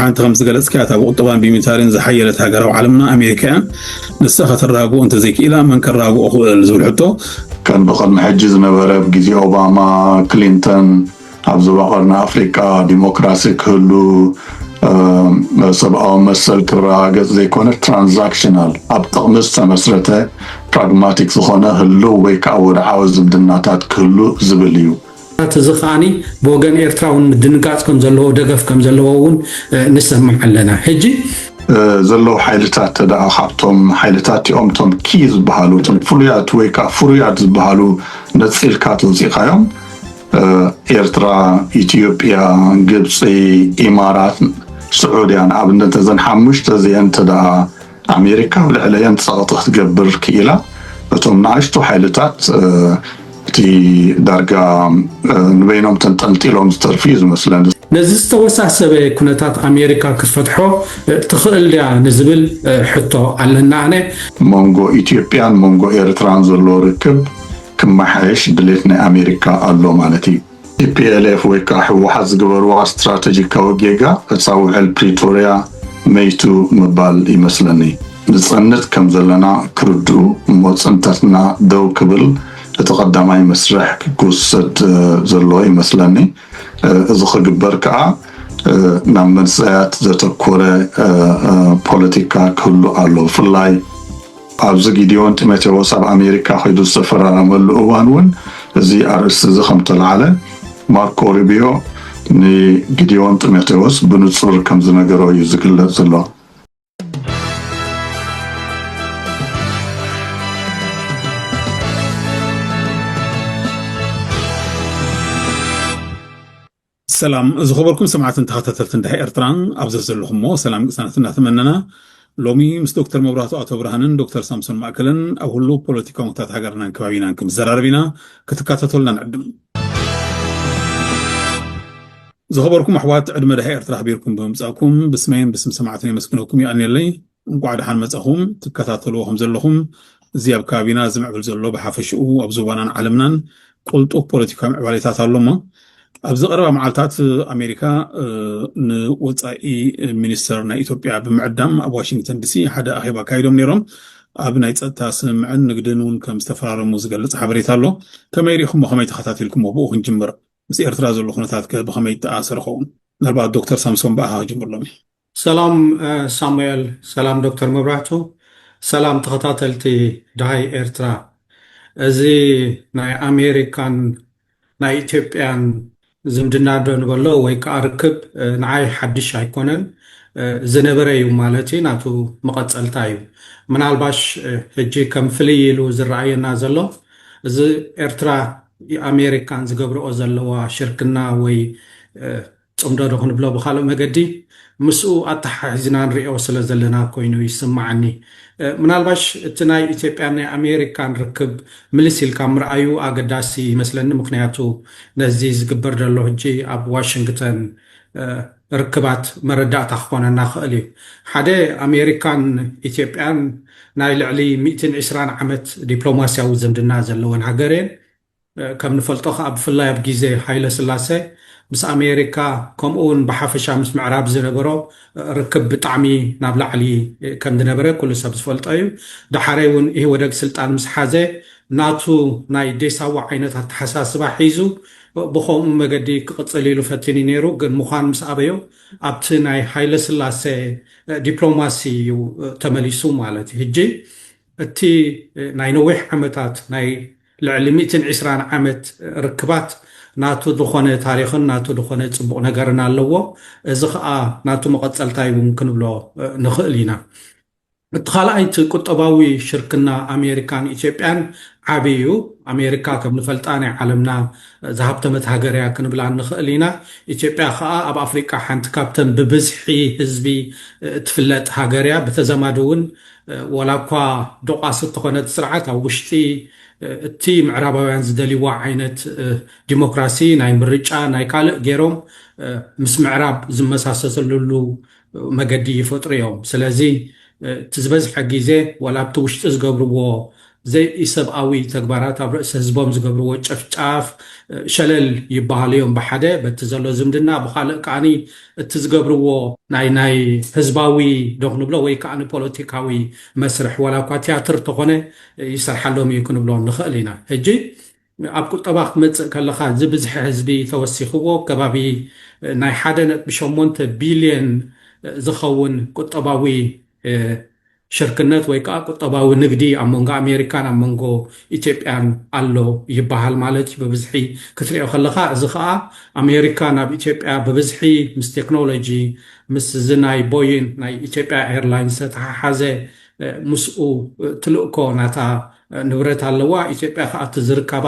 ሓንቲ ከም ዝገለጽካያ እታ ብቁጠባን ብሚታሪን ዝሓየለት ሃገር ኣብ ዓለምና ኣሜሪካ እያ ንሳ ከተራግኦ እንተዘይክኢላ መን ከራግኦ ክእል ዝብል ሕቶ ከም ብቅድሚ ሕጂ ዝነበረ ኣብ ግዜ ኦባማ ክሊንተን ኣብ ዞባ ቀርኒ ኣፍሪቃ ዲሞክራሲ ክህሉ ሰብኣዊ መሰል ክረጋገጽ ዘይኮነ ትራንዛክሽናል ኣብ ጥቕሚ ዝተመስረተ ፕራግማቲክ ዝኾነ ህልው ወይ ከዓ ወድዓዊ ዝምድናታት ክህሉ ዝብል እዩ ናት እዚ ከኣ ብወገን ኤርትራ ውን ምድንጋጽ ከም ዘለዎ ደገፍ ከም ዘለዎ ውን ንሰምዕ ኣለና ሕጂ። ዘለዉ ሓይልታት ተደኣ ካብቶም ሓይልታት እቲኦም እቶም ኪ ዝበሃሉ እቶም ፍሉያት ወይ ከኣ ፍሩያት ዝበሃሉ ነጺልካ ተውጺእካዮም ኤርትራ ኢትዮጵያ ግብጺ ኢማራት ስዑድያ ንኣብነት እዘን ሓሙሽተ እዚኤን ተደኣ ኣሜሪካ ኣብ ልዕለየን ጸቕጢ ክትገብር ክኢላ፣ እቶም ንኣሽቱ ሓይልታት እቲ ዳርጋ ንበይኖም ተንጠልጢሎም ዝተርፉ እዩ ዝመስለኒ። ነዚ ዝተወሳሰበ ኩነታት ኣሜሪካ ክትፈትሖ ትኽእል ድያ ንዝብል ሕቶ ኣለኒ ኣነ። መንጎ ኢትዮጵያን መንጎ ኤርትራን ዘሎ ርክብ ክመሓየሽ ድሌት ናይ ኣሜሪካ ኣሎ ማለት እዩ። ቲፒኤልኤፍ ወይ ከዓ ህወሓት ዝገበርዋ ስትራተጂካዊ ጌጋ ዕፃ ውዕል ፕሪቶርያ መይቱ ምባል ይመስለኒ። ንፀንት ከም ዘለና ክርድኡ እሞ ፅንተትና ደው ክብል እቲ ቀዳማይ መስርሕ ክወሰድ ዘለዎ ይመስለኒ። እዚ ክግበር ከዓ ናብ መንሰያት ዘተኮረ ፖለቲካ ክህሉ ኣለዎ። ብፍላይ። ኣብዚ ጊዴዎን ጢሞቴዎስ ኣብ ኣሜሪካ ከይዱ ዝተፈራረመሉ እዋን እውን እዚ ኣርእስቲ እዚ ከም እተላዕለ ማርኮ ሩቢዮ ንጊዴዎን ጢሞቴዎስ ብንጹር ከም ዝነገሮ እዩ ዝግለጽ ዘሎ። ሰላም ዝኸበርኩም ሰማዕትን ተኸታተልትን ድሕሪ ኤርትራ ኣብ ዘዘለኹሞ ሰላም ቅሳነት እናተመነና ሎሚ ምስ ዶክተር መብራቱ ኣቶ ብርሃንን ዶክተር ሳምሶን ማእከልን ኣብ ህሉ ፖለቲካዊ ኩነታት ሃገርናን ከባቢናን ክንዘራረብ ኢና ክትከታተሉና ንዕድም ዝኸበርኩም ኣሕዋት ዕድመ ድሃ ኤርትራ ኣኽቢርኩም ብምምጻእኩም ብስመይን ብስም ሰማዕትን የመስግነኩም ይኣልኒለይ እንቋዕ ደሓን መጻኹም ትከታተልዎ ከም ዘለኹም እዚ ኣብ ከባቢና ዝምዕብል ዘሎ ብሓፈሽኡ ኣብ ዞባናን ዓለምናን ቁልጡፍ ፖለቲካዊ ምዕባሌታት ኣሎ እሞ ኣብዚ ቀረባ መዓልታት ኣሜሪካ ንወፃኢ ሚኒስተር ናይ ኢትዮጵያ ብምዕዳም ኣብ ዋሽንግተን ዲሲ ሓደ ኣኼባ ኣካይዶም ነይሮም ኣብ ናይ ፀጥታ ስምምዕን ንግድን እውን ከም ዝተፈራረሙ ዝገልፅ ሓበሬታ ኣሎ ከመይ ሪኢኹሞ ከመይ ተኸታቲልኩሞ ብኡ ክንጅምር ምስ ኤርትራ ዘሎ ኩነታት ከ ብኸመይ ይተኣሳሰር ኸውን ምናልባት ዶክተር ሳምሶን ብኣኻ ክጅምር ሎሚ ሰላም ሳሙኤል ሰላም ዶክተር መብራህቱ ሰላም ተኸታተልቲ ደሃይ ኤርትራ እዚ ናይ ኣሜሪካን ናይ ኢትዮጵያን ዝምድና ዶ ንበሎ ወይ ከኣ ርክብ ንዓይ ሓድሽ ኣይኮነን ዝነበረ እዩ ማለት ናቱ መቐጸልታ እዩ ምናልባሽ ሕጂ ከም ፍልይ ኢሉ ዝረኣየና ዘሎ እዚ ኤርትራ ኣሜሪካን ዝገብርኦ ዘለዋ ሽርክና ወይ ጽምዶ ዶ ክንብሎ ብኻልእ መገዲ ምስኡ ኣተሓሒዝና ንሪኦ ስለ ዘለና ኮይኑ ይስመዓኒ። ምናልባሽ እቲ ናይ ኢትዮጵያን ናይ ኣሜሪካን ርክብ ምልስ ኢልካ ምርኣዩ ኣገዳሲ ይመስለኒ ምኽንያቱ ነዚ ዝግበር ዘሎ ሕጂ ኣብ ዋሽንግተን ርክባት መረዳእታ ክኾነና ይኽእል እዩ። ሓደ ኣሜሪካን ኢትዮጵያን ናይ ልዕሊ ሚእትን ዕስራን ዓመት ዲፕሎማሲያዊ ዝምድና ዘለወን ሃገር እየን። ከም ንፈልጦ ከኣ ብፍላይ ኣብ ግዜ ሃይለስላሰ ምስ ኣሜሪካ ከምኡ ውን ብሓፈሻ ምስ ምዕራብ ዝነበሮ ርክብ ብጣዕሚ ናብ ላዕሊ ከም ዝነበረ ኩሉ ሰብ ዝፈልጦ እዩ። ደሓረይ ውን ኢህወደግ ስልጣን ምስ ሓዘ ናቱ ናይ ዴሳዋ ዓይነት ኣተሓሳስባ ሒዙ ብኸምኡ መገዲ ክቕጽል ኢሉ ፈቲኑ ነይሩ ግን ምዃን ምስ ኣበዮ ኣብቲ ናይ ሃይለስላሰ ዲፕሎማሲ እዩ ተመሊሱ ማለት እዩ። ህጂ እቲ ናይ ነዊሕ ዓመታት ናይ ልዕሊ ሚእትን ዒስራን ዓመት ርክባት ናቱ ዝኾነ ታሪኽን ናቱ ዝኾነ ጽቡቕ ነገርን ኣለዎ። እዚ ከኣ ናቱ መቐጸልታ'ዩ እውን ክንብሎ ንኽእል ኢና። እቲ ካልኣይ እቲ ቁጠባዊ ሽርክና ኣሜሪካን ኢትዮጵያን ዓቢ እዩ። ኣሜሪካ ከም ንፈልጣ ናይ ዓለምና ዝሃብተመት ሃገር እያ ክንብላ ንኽእል ኢና። ኢትዮጵያ ከኣ ኣብ ኣፍሪቃ ሓንቲ ካብተን ብብዝሒ ህዝቢ እትፍለጥ ሃገር እያ። ብተዛማዲ እውን ዋላ እኳ ዶቓስ እተኾነት ስርዓት ኣብ ውሽጢ እቲ ምዕራባውያን ዝደልይዋ ዓይነት ዲሞክራሲ ናይ ምርጫ ናይ ካልእ ገይሮም ምስ ምዕራብ ዝመሳሰሰልሉ መገዲ ይፈጥሩ እዮም። ስለዚ እቲ ዝበዝሐ ግዜ ዋላ ኣብቲ ውሽጢ ዝገብርዎ ዘይኢሰብኣዊ ተግባራት ኣብ ርእሲ ህዝቦም ዝገብርዎ ጨፍጫፍ ሸለል ይበሃሉ እዮም ብሓደ በቲ ዘሎ ዝምድና ብኻልእ ከዓኒ እቲ ዝገብርዎ ናይ ናይ ህዝባዊ ዶ ክንብሎ ወይ ከዓኒ ፖለቲካዊ መስርሕ ዋላ እኳ ትያትር ተኾነ ይስርሓሎም እዩ ክንብሎ ንኽእል ኢና ሕጂ ኣብ ቁጠባ ክትመጽእ ከለኻ እዚ ብዝሒ ህዝቢ ተወሲኽዎ ከባቢ ናይ ሓደ ነጥቢ ሸሞንተ ቢልዮን ዝኸውን ቁጠባዊ ሽርክነት ወይ ከኣ ቁጠባዊ ንግዲ ኣብ መንጎ ኣሜሪካን ኣብ መንጎ ኢትዮጵያን ኣሎ ይበሃል ማለት እዩ ብብዝሒ ክትሪኦ ከለኻ እዚ ከኣ ኣሜሪካ ናብ ኢትዮጵያ ብብዝሒ ምስ ቴክኖሎጂ ምስ እዚ ናይ ቦይን ናይ ኢትዮጵያ ኤርላይንስ ዝተተሓሓዘ ምስኡ ትልእኮ ናታ ንብረት ኣለዋ፣ ኢትዮጵያ ከኣ እቲ ዝርካባ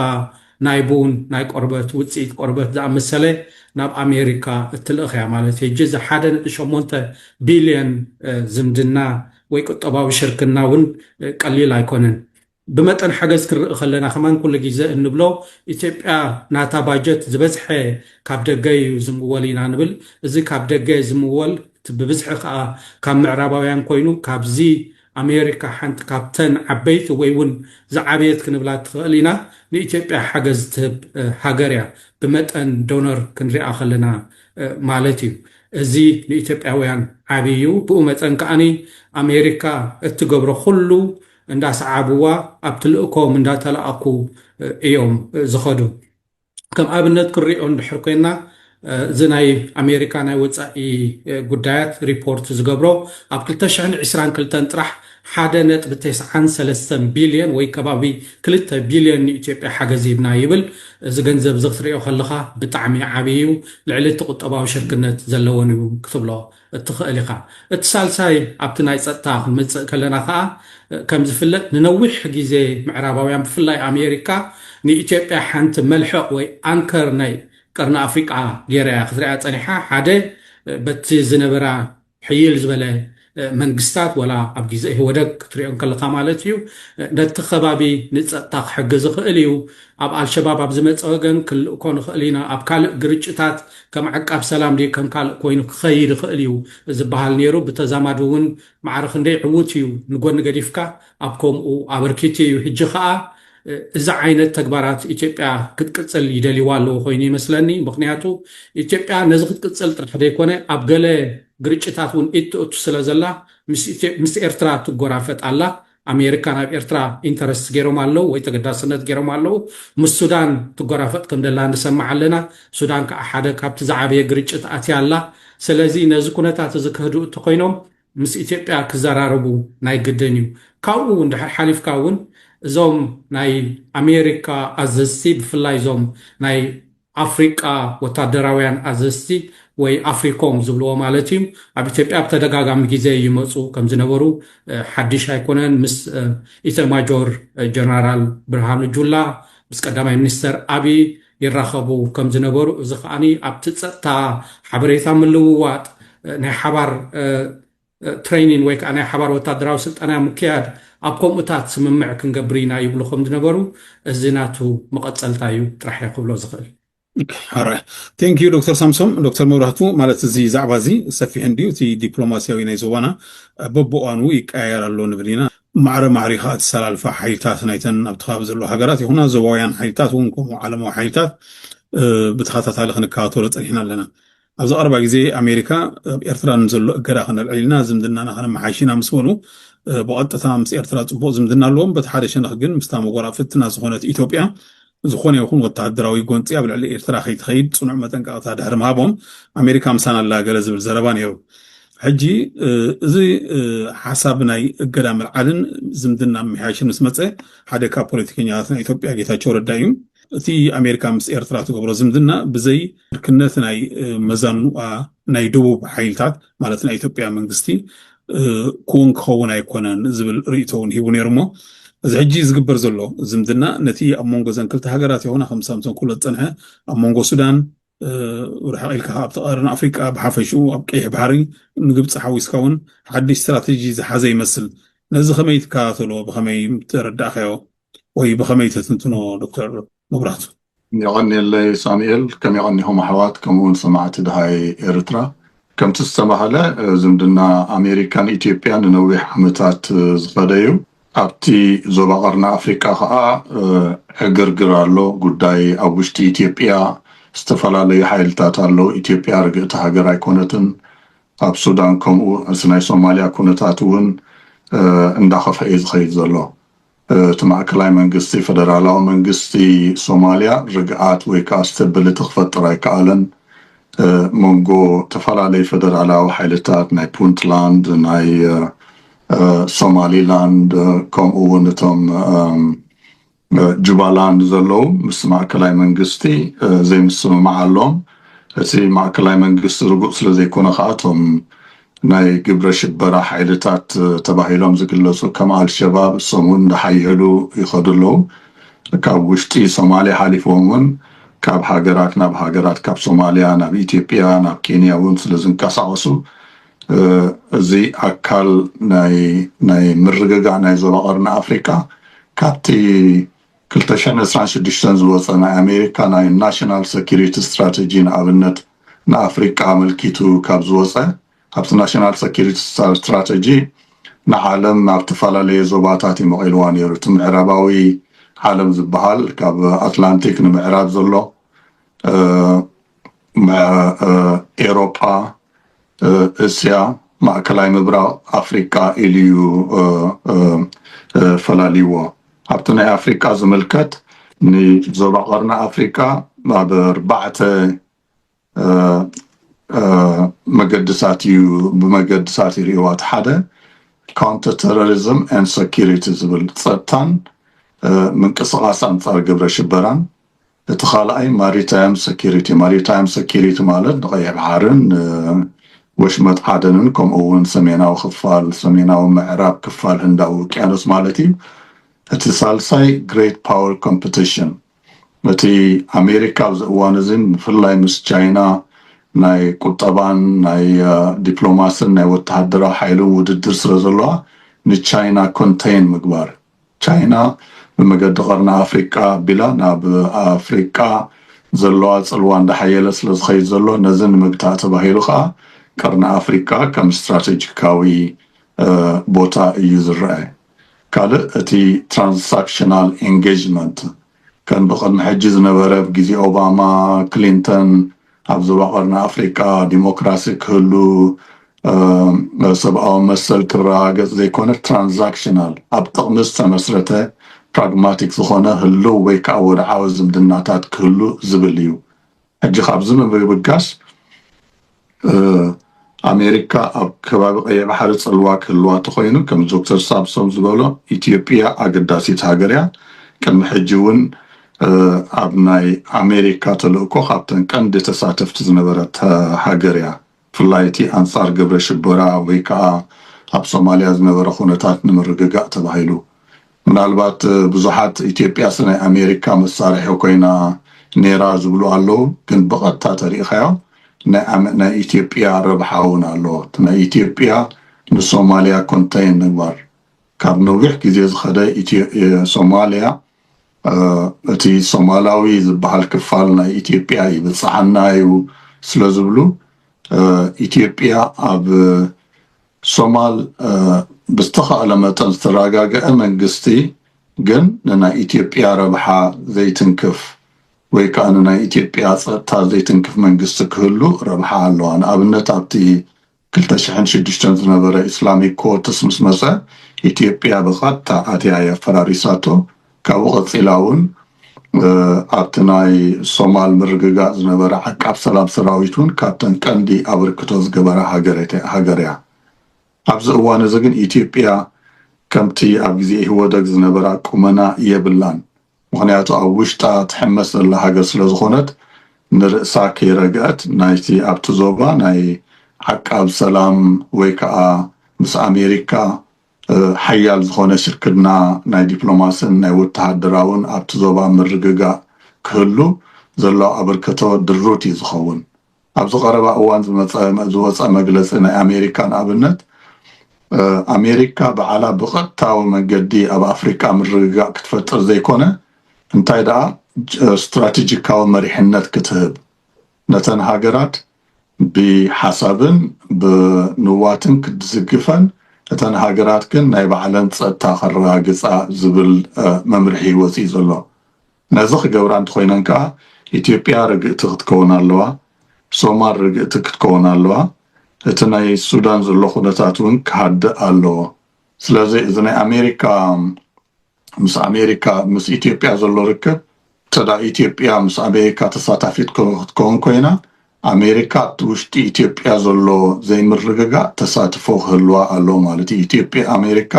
ናይ ቡን፣ ናይ ቆርበት፣ ውጽኢት ቆርበት ዝኣመሰለ ናብ ኣሜሪካ እትልእኽ እያ ማለት እዩ። ሕጂ እዚ ሓደ ነጥቢ ሸሞንተ ቢልዮን ዝምድና ወይ ቁጠባዊ ሽርክና እውን ቀሊል ኣይኮነን። ብመጠን ሓገዝ ክንርኢ ከለና ከማን ኩሉ ጊዘ እንብሎ ኢትዮጵያ ናታ ባጀት ዝበዝሐ ካብ ደገ እዩ ዝምወል ኢና ንብል እዚ ካብ ደገ ዝምወል እቲ ብብዝሒ ከኣ ካብ ምዕራባውያን ኮይኑ ካብዚ ኣሜሪካ ሓንቲ ካብተን ዓበይቲ ወይ ውን ዝዓበየት ክንብላ ትኸእል ኢና ንኢትዮጵያ ሓገዝ ትህብ ሃገር እያ ብመጠን ዶነር ክንሪኣ ከለና ማለት እዩ እዚ ንኢትዮጵያውያን ዓቢ እዩ ብኡ መጠን ከኣ ኣሜሪካ እትገብሮ ኩሉ እንዳሰዓብዋ ኣብ ትልእኮም እንዳተላኣኩ እዮም ዝኸዱ ከም ኣብነት ክንሪኦ እንድሕር ኮይና እዚ ናይ ኣሜሪካ ናይ ወፃኢ ጉዳያት ሪፖርት ዝገብሮ ኣብ ክልተ ሽሕን ዕስራን ክልተን ጥራሕ ሓደ ነጥቢ ተስዓን ሰለስተን ቢልዮን ወይ ከባቢ ክልተ ቢልዮን ንኢትዮጵያ ሓገዝ ሂብና ይብል እዚ ገንዘብ እዚ ክትሪኦ ከለኻ ብጣዕሚ ዓብይ እዩ ልዕሊ እቲ ቁጠባዊ ሽርክነት ዘለወን እዩ ክትብሎ እትኸእል ኢኻ። እቲ ሳልሳይ ኣብቲ ናይ ጸጥታ ክንመጽእ ከለና ከኣ ከም ዝፍለጥ ንነዊሕ ግዜ ምዕራባውያን ብፍላይ ኣሜሪካ ንኢትዮጵያ ሓንቲ መልሕቕ ወይ ኣንከር ናይ ቀርኒ ኣፍሪቃ ገይራ እያ ክትርእያ ጸኒሓ ሓደ በቲ ዝነበራ ሕይል ዝበለ መንግስታት ወላ ኣብ ግዜ ኢህወደግ ክትሪኦ እንከለኻ ማለት እዩ ነቲ ከባቢ ንጸጥታ ክሕግዝ ይኽእል እዩ ኣብ ኣልሸባብ ኣብ ዝመጽእ ወገን ክንልእኮ ንኽእል ኢና፣ ኣብ ካልእ ግርጭታት ከም ዓቃብ ሰላም ድዩ ከም ካልእ ኮይኑ ክኸይድ ይኽእል እዩ ዝበሃል ነይሩ፣ ብተዛማዲ እውን ማዕረ ክንደይ ዕዉት እዩ ንጎኒ ገዲፍካ ኣብ ከምኡ ኣበርኪቱ እዩ፣ ሕጂ ከኣ እዚ ዓይነት ተግባራት ኢትዮጵያ ክትቅጽል ይደልይዋ ኣለዉ ኮይኑ ይመስለኒ፣ ምኽንያቱ ኢትዮጵያ ነዚ ክትቅጽል ጥራሕ ዘይኮነ ኣብ ገለ ግርጭታት እውን ኢድ ተእቱ ስለዘላ ምስ ኤርትራ ትጎራፈጥ ኣላ፣ ኣሜሪካ ናብ ኤርትራ ኢንተረስት ጌሮም ኣለው ወይ ተገዳስነት ጌሮም ኣለው ምስ ሱዳን ትጎራፈጥ ከም ደላ ንሰምዕ ኣለና ሱዳን ክኣ ሓደ ካብቲ ዝዓበየ ግርጭት ኣትያ ኣላ ሰለዚ ነዚ ኩነታት እዚ ከህድኡ ተኮይኖም ምስ ኢትዮጵያ ክዘራረቡ ናይ ግድን እዩ ካብኡ እንድሕር ሓሊፍካ ውን እዞም ናይ ኣሜሪካ ኣዘዝቲ ብፍላይ እዞም ናይ ኣፍሪቃ ወታደራውያን ኣዘዝቲ ወይ ኣፍሪኮም ዝብልዎ ማለት እዩ ኣብ ኢትዮጵያ ብተደጋጋሚ ግዜ ይመፁ ከምዝነበሩ ሓዲሽ ኣይኮነን ምስ ኢተማጆር ጀነራል ብርሃኑ ጁላ ምስ ቀዳማይ ሚኒስተር ኣብይ ይራኸቡ ከምዝነበሩ እዚ ከኣ ኣብቲ ፀጥታ ሓበሬታ ምልውዋጥ ናይ ሓባር ትረይኒን ወይ ከኣ ናይ ሓባር ወታደራዊ ስልጠና ምክያድ ኣብ ከምኡታት ስምምዕ ክንገብር ኢና ይብሉ ከም ዝነበሩ እዚ ናቱ መቐጸልታ እዩ ጥራሕ እየ ክብሎ ዝኽእል። ኣራይ ቴንክ ዩ ዶክተር ሳምሶም ዶክተር መብራህቱ ማለት እዚ ዛዕባ እዚ ሰፊሕ እንድዩ እቲ ዲፕሎማስያዊ ናይ ዞባና በብእዋኑ ይቀያየር ኣሎ ንብል ኢና ማዕረ ማዕሪ ከዓ እተሰላልፋ ሓይልታት ናይተን ኣብቲ ከባቢ ዘለዎ ሃገራት ይኹና ዞባውያን ሓይልታት እውን ከምኡ ዓለማዊ ሓይልታት ብተኸታታሊ ክንከታተሎ ፀኒሕና ኣለና ኣብዚ ቀረባ ግዜ ኣሜሪካ ኣብ ኤርትራ ንዘሎ እገዳ ከነልዕል ኢና፣ ዝምድናና ከነመሓይሽ ኢና ምስ በሉ ብቐጥታ ምስ ኤርትራ ጽቡቕ ዝምድና ኣለዎም፣ በቲ ሓደ ሸነኽ ግን ምስታ መጎራፍትና ዝኾነት ኢትዮጵያ ዝኾነ ይኹን ወተሃደራዊ ጎንጺ ኣብ ልዕሊ ኤርትራ ከይትኸይድ ጽኑዕ መጠንቀቕታ ድሕሪ ምሃቦም ኣሜሪካ ምሳና ኣላ ገለ ዝብል ዘረባ ነይሩ። ሕጂ እዚ ሓሳብ ናይ እገዳ ምልዓልን ዝምድና ምምሕያሽን ምስ መፀ ሓደ ካብ ፖለቲከኛታት ናይ ኢትዮጵያ ጌታቸው ረዳ እዩ እቲ ኣሜሪካ ምስ ኤርትራ ትገብሮ ዝምድና ብዘይ ምልክነት ናይ መዛኑኣ ናይ ደቡብ ሓይልታት ማለት ናይ ኢትዮጵያ መንግስቲ ክውን ክኸውን ኣይኮነን ዝብል ርእይቶ እውን ሂቡ ነይሩ እሞ እዚ ሕጂ ዝግበር ዘሎ ዝምድና ነቲ ኣብ መንጎ ዘን ክልተ ሃገራት ይኹና ከም ሳምሶን ኩሎ ዝፀንሐ ኣብ መንጎ ሱዳን ርሕቕ ኢልካ ኣብቲ ቀርኒ ኣፍሪቃ ብሓፈሽኡ ኣብ ቀይሕ ባሕሪ ንግብፂ ሓዊስካ እውን ሓድሽ ስትራቴጂ ዝሓዘ ይመስል ነዚ ከመይ ትከታተሎ ብከመይ ተረዳእካዮ ወይ ብኸመይ ተትንትኖ ዶክተር መብራህቱ? የቐንየለይ ሳሙኤል፣ ከም የቐንኹም ኣሕዋት ከምኡ ውን ሰማዕቲ ደሃይ ኤርትራ። ከምቲ ዝተባህለ ዝምድና ኣሜሪካን ኢትዮጵያን ንነዊሕ ዓመታት ዝኸደ እዩ። ኣብቲ ዞባ ቀርኒ ኣፍሪቃ ከኣ ዕግርግር ኣሎ። ጉዳይ ኣብ ውሽጢ ኢትዮጵያ ዝተፈላለዩ ሓይልታት ኣለዉ። ኢትዮጵያ ርግእቲ ሃገር ኣይኮነትን። ኣብ ሱዳን ከምኡ፣ እቲ ናይ ሶማልያ ኩነታት እውን እንዳኸፍኣ እዩ ዝኸይድ ዘሎ። እቲ ማእከላይ መንግስቲ ፈደራላዊ መንግስቲ ሶማልያ ርግኣት ወይ ከኣ ስተብልቲ ክፈጥር ኣይከኣለን። መንጎ ተፈላለዩ ፈደራላዊ ሓይልታት ናይ ፑንትላንድ ናይ ሶማሊላንድ ከምኡ እውን እቶም ጁባላንድ ዘለዉ ምስ ማእከላይ መንግስቲ ዘይምስምማዕ ኣሎዎም። እቲ ማእከላይ መንግስቲ ርጉጽ ስለ ዘይኮነ ከኣ እቶም ናይ ግብረ ሽበራ ሓይልታት ተባሂሎም ዝግለፁ ከም ኣልሸባብ እሶም እውን እንዳሓየሉ ይኸዱ ኣለው። ካብ ውሽጢ ሶማሊያ ሓሊፎም እውን ካብ ሃገራት ናብ ሃገራት ካብ ሶማሊያ ናብ ኢትዮጵያ ናብ ኬንያ እውን ስለዝንቀሳቐሱ እዚ ኣካል ናይ ናይ ምርግጋእ ናይ ዞባ ቀርኒ ኣፍሪቃ ካብቲ ክልተ ሽሕን ዕስራን ሽዱሽተን ዝወፀ ናይ ኣሜሪካ ናይ ናሽናል ሰኪሪቲ ስትራተጂ ንኣብነት ንኣፍሪቃ ኣመልኪቱ ካብ ዝወጸ ኣብቲ ናሽናል ሰኪሪቲ ስትራተጂ ንዓለም ኣብ ተፈላለየ ዞባታት እዩ መቒልዋ ነይሩ። እቲ ምዕራባዊ ዓለም ዝበሃል ካብ ኣትላንቲክ ንምዕራብ ዘሎ፣ ኤሮጳ፣ እስያ፣ ማእከላይ ምብራቕ፣ ኣፍሪቃ ኢሉ'ዩ ፈላልይዎ። ኣብቲ ናይ ኣፍሪቃ ዝምልከት ንዞባ ቀርኒ ኣፍሪቃ ኣብ ኣርባዕተ መገድታት እዩ ብመገድታት ይርእይዋ እቲ ሓደ ካውንተር ተሮሪዝም ን ሰኪሪቲ ዝብል ጸጥታን ምንቅስቓስ ኣንጻር ግብረ ሽበራን እቲ ካልኣይ ማሪታይም ሰኪሪቲ፣ ማሪታይም ሰኪሪቲ ማለት ንቀይሕ ባሕርን ንወሽመጥ ዓደንን ከምኡ እውን ሰሜናዊ ክፋል፣ ሰሜናዊ ምዕራብ ክፋል ህንዳዊ ውቅያኖስ ማለት እዩ። እቲ ሳልሳይ ግሬት ፓወር ኮምፕቲሽን፣ እቲ ኣሜሪካ ኣብዚ እዋን እዚ ብፍላይ ምስ ቻይና ናይ ቁጠባን ናይ ዲፕሎማስን ናይ ወተሃደራዊ ሓይልን ውድድር ስለዘለዋ ንቻይና ኮንተይን ምግባር እዩ። ቻይና ብመገዲ ቀርኒ ኣፍሪቃ ኣቢላ ናብ ኣፍሪቃ ዘለዋ ጽልዋ እንዳሓየለ ስለዝኸይድ ዘሎ ነዚ ንምግታእ ተባሂሉ ከኣ ቀርኒ ኣፍሪቃ ከም ስትራተጂካዊ ቦታ እዩ ዝረኣ። ካልእ እቲ ትራንሳክሽናል ኤንጌጅመንት ከም ብቅድሚ ሕጂ ዝነበረ ብ ግዜ ኦባማ ክሊንተን ኣብ ዞባ ቀርኒ ኣፍሪቃ ዲሞክራሲ ክህሉ ሰብኣዊ መሰል ክረጋገጽ ዘይኮነ ትራንዛክሽናል ኣብ ጥቅሚ ዝተመስረተ ፕራግማቲክ ዝኾነ ህልው ወይ ከኣ ወድዓዊ ዝምድናታት ክህሉ ዝብል እዩ ሕጂ ካብዚ ብምብጋስ ኣሜሪካ ኣብ ከባቢ ቀይሕ ባሕሪ ጽልዋ ክህልዋ ተኾይኑ ከም ዶክተር ሳምሶም ዝበሎ ኢትዮጵያ ኣገዳሲት ሃገር እያ ቅድሚ ሕጂ እውን ኣብ ናይ ኣሜሪካ ተልእኮ ካብተን ቀንዲ ተሳተፍቲ ዝነበረት ሃገር እያ ብፍላይ እቲ ኣንጻር ግብረ ሽበራ ወይ ከኣ ኣብ ሶማልያ ዝነበረ ኩነታት ንምርግጋእ ተባሂሉ ምናልባት ብዙሓት ኢትዮጵያስ ናይ ኣሜሪካ መሳርሒ ኮይና ኔራ ዝብሉ ኣለዉ ግን ብቐጥታ ተሪኢኻዮ ናይ ናይ ኢትዮጵያ ረብሓ ውን ኣሎ እቲ ናይ ኢትዮጵያ ንሶማልያ ኮንተይን ምግባር ካብ ነዊሕ ግዜ ዝኸደ ኢትዮ ሶማልያ እቲ ሶማላዊ ዝበሃል ክፋል ናይ ኢትዮጵያ ይብጽሓና እዩ ስለዝብሉ ኢትዮጵያ ኣብ ሶማል ብዝተኻእለ መጠን ዝተረጋገዐ መንግስቲ ግን ንናይ ኢትዮጵያ ረብሓ ዘይትንክፍ ወይ ከዓ ንናይ ኢትዮጵያ ፀጥታ ዘይትንክፍ መንግስቲ ክህሉ ረብሓ ኣለዋ። ንኣብነት ኣብቲ ክልተ ሽሕን ሽዱሽተን ዝነበረ ኢስላሚክ ኮርትስ ምስ መጸ ኢትዮጵያ ብቐጥታ ኣትያ እያ ኣፈራሪሳቶ። ካብኡ ቀጺላ እውን ኣብቲ ናይ ሶማል ምርግጋእ ዝነበረ ዓቃብ ሰላም ሰራዊት እውን ካብተን ቀንዲ ኣበርክቶ ዝገበራ ሃገር እያ። ኣብዚ እዋን እዚ ግን ኢትዮጵያ ከምቲ ኣብ ግዜ ኢህወደግ ዝነበራ ቁመና የብላን። ምኽንያቱ ኣብ ውሽጣ ትሕመስ ዘላ ሃገር ስለ ዝኾነት ንርእሳ ከይረግዐት ናይቲ ኣብቲ ዞባ ናይ ዓቃብ ሰላም ወይ ከኣ ምስ ኣሜሪካ ሓያል ዝኾነ ሽርክና ናይ ዲፕሎማስን ናይ ወተሃደራውን ኣብቲ ዞባ ምርግጋእ ክህሉ ዘለዎ ኣበርክቶ ድሩት እዩ ዝኸውን። ኣብዚ ቀረባ እዋን ዝመጸ ዝወጸ መግለጺ ናይ ኣሜሪካ ንኣብነት ኣሜሪካ በዓላ ብቐጥታዊ መገዲ ኣብ ኣፍሪቃ ምርግጋእ ክትፈጥር ዘይኮነ እንታይ ደኣ ስትራቴጂካዊ መሪሕነት ክትህብ ነተን ሃገራት ብሓሳብን ብንዋትን ክትዝግፈን እተን ሃገራት ግን ናይ ባዕለን ጸጥታ ከረጋግጻ ዝብል መምርሒ ወጺኡ ዘሎ ነዚ ክገብራ እንተኾይነን ከኣ ኢትዮጵያ ርግእቲ ክትከውን ኣለዋ፣ ሶማል ርግእቲ ክትከውን ኣለዋ፣ እቲ ናይ ሱዳን ዘሎ ኩነታት ውን ክሃድእ ኣለዎ። ስለዚ እዚ ናይ ኣሜሪካ ምስ ኣሜሪካ ምስ ኢትዮጵያ ዘሎ ርክብ እንተ ኢትዮጵያ ምስ ኣሜሪካ ተሳታፊት ክትከውን ኮይና ኣሜሪካ ኣብቲ ውሽጢ ኢትዮጵያ ዘሎ ዘይምርግጋእ ተሳትፎ ክህልዋ ኣለዎ ማለት እዩ። ኢትዮጵያ ኣሜሪካ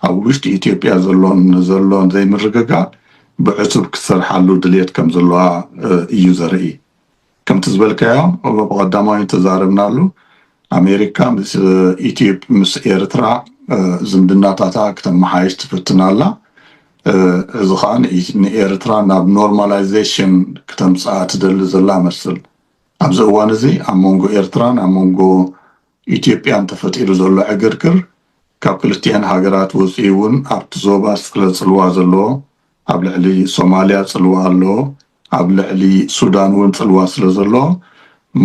ኣብ ውሽጢ ኢትዮጵያ ዘሎ ንዘሎ ዘይምርግጋእ ብዕቱብ ክትሰርሓሉ ድልየት ከም ዘለዋ እዩ ዘርኢ። ከምቲ ዝበልካዮ ብቐዳማዊ ተዛረብናሉ ኣሜሪካ ምስ ኤርትራ ዝምድናታታ ክተመሓይሽ ትፍትን ኣላ። እዚ ከኣ ንኤርትራ ናብ ኖርማላይዜሽን ክተምጽኣ ትደሊ ዘላ መስል። ኣብዚ እዋን እዚ ኣብ መንጎ ኤርትራን ኣብ መንጎ ኢትዮጵያን ተፈጢሩ ዘሎ ዕግርግር ካብ ክልቲኤን ሃገራት ወጺኡ እውን ኣብቲ ዞባ ዝጸለ ጽልዋ ዘለዎ ኣብ ልዕሊ ሶማልያ ጽልዋ ኣሎ፣ ኣብ ልዕሊ ሱዳን ውን ጽልዋ ስለ ዘሎ፣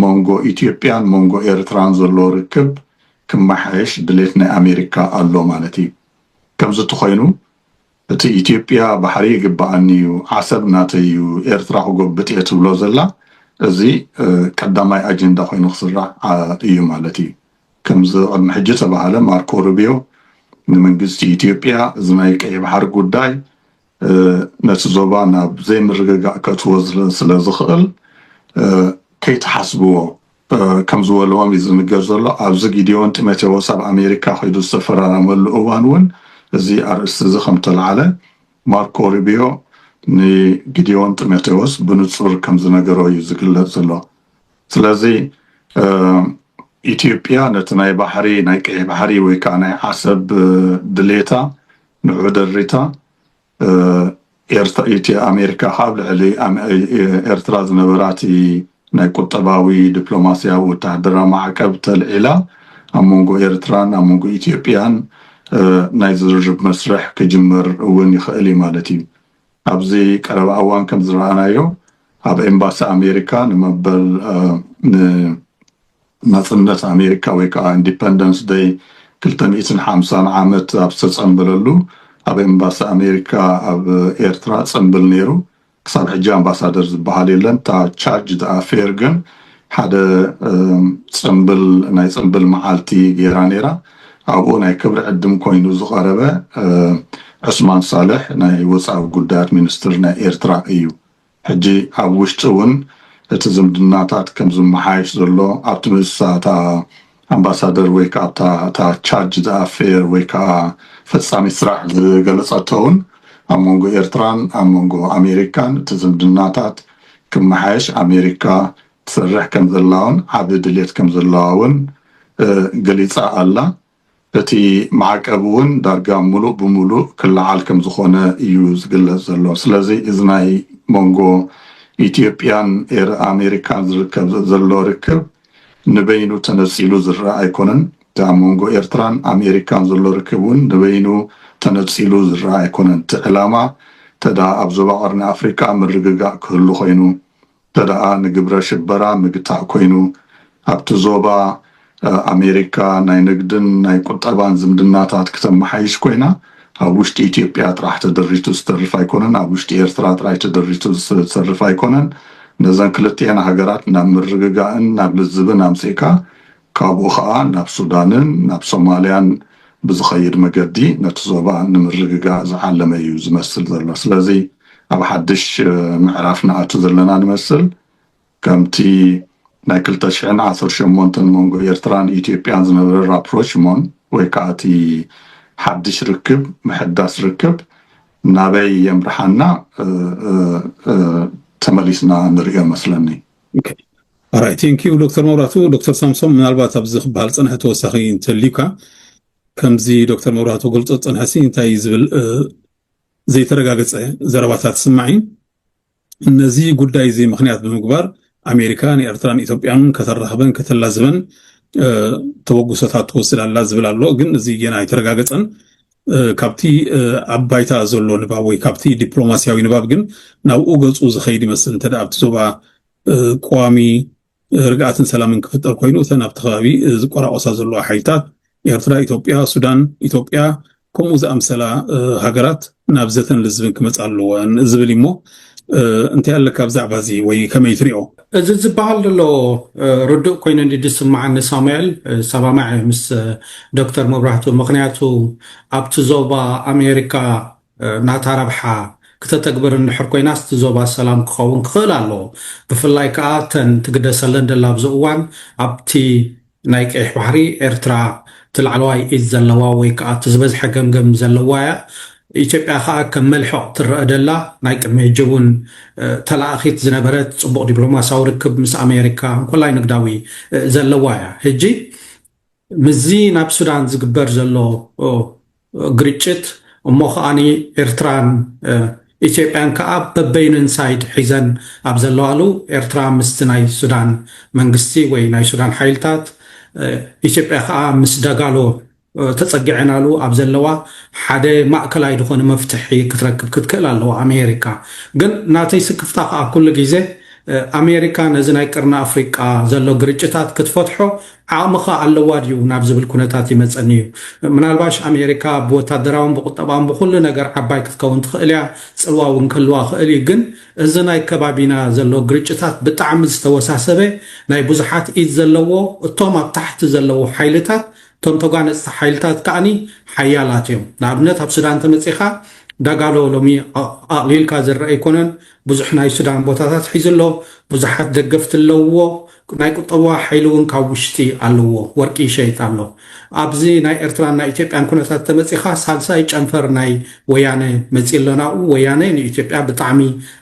መንጎ ኢትዮጵያን መንጎ ኤርትራን ዘሎ ርክብ ክመሓየሽ ድሌት ናይ ኣሜሪካ ኣሎ ማለት እዩ። ከምዚ ተኾይኑ እቲ ኢትዮጵያ ባሕሪ ይግበኣኒ እዩ፣ ዓሰብ ናተይ እዩ፣ ኤርትራ ክጎብጥ እየ ትብሎ ዘላ እዚ ቀዳማይ ኣጀንዳ ኮይኑ ክስራዕ እዩ ማለት እዩ። ከምዚ ቅድሚ ሕጂ ተባሃለ ማርኮ ሩቢዮ ንመንግስቲ ኢትዮጵያ እዚ ናይ ቀይሕ ባሕሪ ጉዳይ ነቲ ዞባ ናብ ዘይምርግጋእ ከእትዎ ስለ ዝኽእል ከይትሓስብዎ ከም ዝበልዎም እዩ ዝንገር ዘሎ። ኣብዚ ጊዴዎን ጢሞቴዎስ ኣብ ኣሜሪካ ከይዱ ዝተፈራረመሉ እዋን እውን እዚ ኣርእስቲ እዚ ከም ተላዕለ ማርኮ ሩቢዮ ንጊዴዎን ጢሞቴዎስ ብንጹር ከም ዝነገሮ እዩ ዝግለጽ ዘሎ። ስለዚ ኢትዮጵያ ነቲ ናይ ባሕሪ ናይ ቀይሕ ባሕሪ ወይ ከዓ ናይ ዓሰብ ድሌታ ንዑ ደሪታ ኣሜሪካ ካብ ልዕሊ ኤርትራ ዝነበራ እቲ ናይ ቁጠባዊ ዲፕሎማስያዊ ወተሃደራዊ ማዕቀብ ተልዒላ ኣብ መንጎ ኤርትራን ኣብ መንጎ ኢትዮጵያን ናይ ዝርርብ መስርሕ ክጅመር እውን ይኽእል እዩ ማለት እዩ ኣብዚ ቀረባ እዋን ከምዝረኣናዮ ኣብ ኤምባሲ ኣሜሪካ ንመበል ንናፅነት ኣሜሪካ ወይ ከዓ ኢንዲፐንደንስ ደይ ክልተ ሚእትን ሓምሳን ዓመት ኣብ ዝተፀምበለሉ ኣብ ኤምባሲ ኣሜሪካ ኣብ ኤርትራ ፅምብል ነይሩ ክሳብ ሕጂ ኣምባሳደር ዝበሃል የለን እታ ቻርጅ ደኣ ፌር ግን ሓደ ጽምብል ናይ ጽምብል መዓልቲ ጌራ ኔራ ኣብኡ ናይ ክብሪ ዕድም ኮይኑ ዝቐረበ ዑስማን ሳልሕ ናይ ወጻኢ ጉዳያት ሚንስትር ናይ ኤርትራ እዩ ሕጂ ኣብ ውሽጢ ውን እቲ ዝምድናታት ከም ዝመሓየሽ ዘሎ ኣብቲ ምስሳታ ኣምባሳደር ወይ ከኣ ኣብታ እታ ቻርጅ ዘኣፌር ወይ ከኣ ፈጻሚት ስራሕ ዝገለጸቶ ውን ኣብ መንጎ ኤርትራን ኣብ መንጎ ኣሜሪካን እቲ ዝምድናታት ክመሓየሽ ኣሜሪካ ትሰርሕ ከም ዘላውን ዓቢ ድሌት ከም ዘለዋ ውን ገሊጻ ኣላ እቲ ማዕቀብ ውን ዳርጋ ምሉእ ብምሉእ ክለዓል ከም ዝኾነ እዩ ዝግለጽ ዘሎ ስለዚ እዚ ናይ መንጎ ኢትዮጵያን ኣሜሪካን ዝርከብ ዘሎ ርክብ ንበይኑ ተነጺሉ ዝረኣ ኣይኮነን፣ እቲ ኣብ መንጎ ኤርትራን ኣሜሪካን ዘሎ ርክብ ውን ንበይኑ ተነጺሉ ዝረኣ ኣይኮነን፣ እቲ ዕላማ ተደኣ ኣብ ዞባ ቀርኒ ኣፍሪቃ ምርግጋእ ክህሉ ኮይኑ፣ ተደኣ ንግብረ ሽበራ ምግታእ ኮይኑ፣ ኣብቲ ዞባ ኣሜሪካ ናይ ንግድን ናይ ቁጠባን ዝምድናታት ክተመሓይሽ ኮይና፣ ኣብ ውሽጢ ኢትዮጵያ ጥራሕ ተደሪቱ ዝተርፍ ኣይኮነን፣ ኣብ ውሽጢ ኤርትራ ጥራይ ተደሪቱ ዝተርፍ ኣይኮነን፣ ነዘን ክልቲኤን ሃገራት ናብ ምርግጋእን ናብ ልዝብን ኣምጺእካ ካብኡ ከኣ ናብ ሱዳንን ናብ ሶማልያን ብዝኸይድ መገዲ ነቲ ዞባ ንምርግጋእ ዝዓለመ እዩ ዝመስል ዘሎ። ስለዚ ኣብ ሓድሽ ምዕራፍ ንኣቱ ዘለና ንመስል። ከምቲ ናይ ክልተ ሽሕን ዓሰርተ ሸሞንተን መንጎ ኤርትራን ኢትዮጵያን ዝነበረ ራፕሮችሞን ወይ ከኣ እቲ ሓድሽ ርክብ ምሕዳስ ርክብ ናበይ የምርሓና ተመሊስና ንርእዮ መስለኒ። ኣራይ ቴንኪዩ ዶክተር መብራቱ። ዶክተር ሳምሶም ምናልባት ኣብዚ ክበሃል ዝፀንሐ ተወሳኺ እንተልዩካ ከምዚ ዶክተር መብራቱ ገልፆ ዝፀንሐሲ እንታይ ዝብል ዘይተረጋገፀ ዘረባታት ስማዕ እዩ ነዚ ጉዳይ እዚ ምክንያት ብምግባር ኣሜሪካ ንኤርትራን ኢትዮጵያን ከተራኽበን ከተላዝበን ተበግሶታት ትወስድ ኣላ ዝብል ኣሎ ግን እዚ ገና ኣይተረጋገፀን ካብቲ ኣብ ባይታ ዘሎ ንባብ ወይ ካብቲ ዲፕሎማስያዊ ንባብ ግን ናብኡ ገፁ ዝኸይድ ይመስል እንተ ኣብቲ ዞባ ቀዋሚ ርግኣትን ሰላምን ክፍጠር ኮይኑ እተን ኣብቲ ከባቢ ዝቆራቆሳ ዘለዋ ሓይልታት ኤርትራ፣ ኢትዮጵያ፣ ሱዳን፣ ኢትዮጵያ ከምኡ ዝኣምሰላ ሃገራት ናብ ዘተን ልዝብን ክመፃ ኣለወን ዝብል እሞ እንታይ ኣለካ ብዛዕባ እዚ ወይ ከመይ ትሪኦ? እዚ ዝበሃል ዘሎ ርዱእ ኮይኑ እንዲ ዝስማዓኒ ሳሙኤል ሰባማዕ ምስ ዶክተር መብራህቱ ምክንያቱ ኣብቲ ዞባ ኣሜሪካ ናታ ረብሓ ክተተግብር እንድሕር ኮይናስ እቲ ዞባ ሰላም ክኸውን ክኽእል ኣለዎ። ብፍላይ ከኣ እተን ትግደሰለን ደላ ኣብዚ እዋን ኣብቲ ናይ ቀይሕ ባሕሪ ኤርትራ እቲ ላዕለዋይ ኢድ ዘለዋ ወይ ከኣ እቲ ዝበዝሐ ገምገም ዘለዋ እያ። ኢትዮጵያ ከኣ ከም መልሕቕ ትረኣ ደላ ናይ ቅድሚ ሕጂ እውን ተላኣኺት ዝነበረት ጽቡቕ ዲፕሎማስያዊ ርክብ ምስ ኣሜሪካ እንኮላይ ንግዳዊ ዘለዋ እያ። ሕጂ ምስዚ ናብ ሱዳን ዝግበር ዘሎ ግርጭት እሞ ከኣ ኤርትራን ኢትዮጵያን ከኣ በበይንን ሳይድ ሒዘን ኣብ ዘለዋሉ ኤርትራ ምስቲ ናይ ሱዳን መንግስቲ ወይ ናይ ሱዳን ሓይልታት ኢትዮጵያ ከኣ ምስ ደጋሎ ተጸጊዐናሉ ኣብ ዘለዋ ሓደ ማእከላይ ዝኾነ መፍትሒ ክትረክብ ክትክእል ኣለዋ ኣሜሪካ ግን ናተይ ስክፍታ ከኣ ኩሉ ግዜ ኣሜሪካ ነዚ ናይ ቅርኒ ኣፍሪቃ ዘሎ ግርጭታት ክትፈትሖ ዓቕምኸ ኣለዋ ድዩ ናብ ዝብል ኩነታት ይመጸኒ እዩ። ምናልባሽ ኣሜሪካ ብወታደራውን ብቑጠባውን ብኹሉ ነገር ዓባይ ክትከውን ትኽእል እያ፣ ጽልዋ እውን ክህልዋ ይኽእል እዩ፣ ግን እዚ ናይ ከባቢና ዘሎ ግርጭታት ብጣዕሚ ዝተወሳሰበ ናይ ብዙሓት ኢድ ዘለዎ እቶም ኣብ ታሕቲ ዘለዉ ሓይልታት እቶም ተጓነጽቲ ሓይልታት ከኣ ሓያላት እዮም ንኣብነት ኣብ ሱዳን ተመጺኻ ዳጋሎ ሎሚ ኣቕሊልካ ዝርኣ ኣይኮነን ብዙሕ ናይ ሱዳን ቦታታት ሒዙ ኣሎ፣ ብዙሓት ደገፍቲ ኣለውዎ፣ ናይ ቁጠባዊ ሓይሊ እውን ካብ ውሽጢ ኣለዎ፣ ወርቂ ይሸይጥ ኣሎ። ኣብዚ ናይ ኤርትራን ናይ ኢትዮጵያን ኩነታት ተመጺኻ ሳልሳይ ጨንፈር ናይ ወያነ መጺኡ ኣሎ ናብኡ። ወያነ ንኢትዮጵያ ብጣዕሚ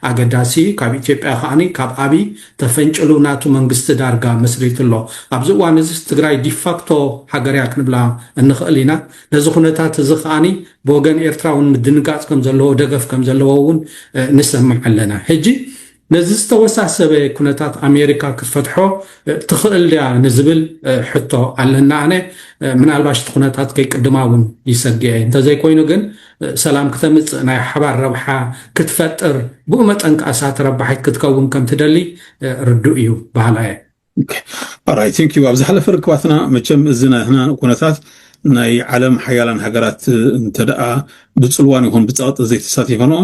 ኣገዳሲ እዩ፣ ካብ ኢትዮጵያ ከኣ ካብ ኣብይ ተፈንጭሉ ናቱ መንግስቲ ዳርጋ መስሪቱ ኣሎ። ኣብዚ እዋን እዚስ ትግራይ ዲፋክቶ ሃገር እያ ክንብላ እንኽእል ኢና። ነዚ ኩነታት እዚ ከኣ ብወገን ኤርትራ እውን ምድንጋጽ ከም ዘለዎ ደገፍ ከም ዘለዎ እውን ንሰምዕ ኣለና ሕጂ ነዚ ዝተወሳሰበ ኩነታት ኣሜሪካ ክትፈትሖ ትኽእል ድያ ንዝብል ሕቶ ኣለና ኣነ ምናልባሽ እቲ ኩነታት ከይቅድማ እውን ይሰግየ እንተዘይኮይኑ ግን ሰላም ክተምፅእ ናይ ሓባር ረብሓ ክትፈጥር ብኡ መጠን ከኣሳ ተረባሒት ክትከውን ከም ትደሊ ርዱእ እዩ በሃላ እየ ኦራይት ቴንክ ዩ ኣብ ዝሓለፈ ርክባትና መቸም እዚ ናይ ህና ኩነታት ናይ ዓለም ሓያላን ሃገራት እንተደኣ ብፅልዋን ይኹን ብፀቕጢ ዘይተሳቲፈንኦ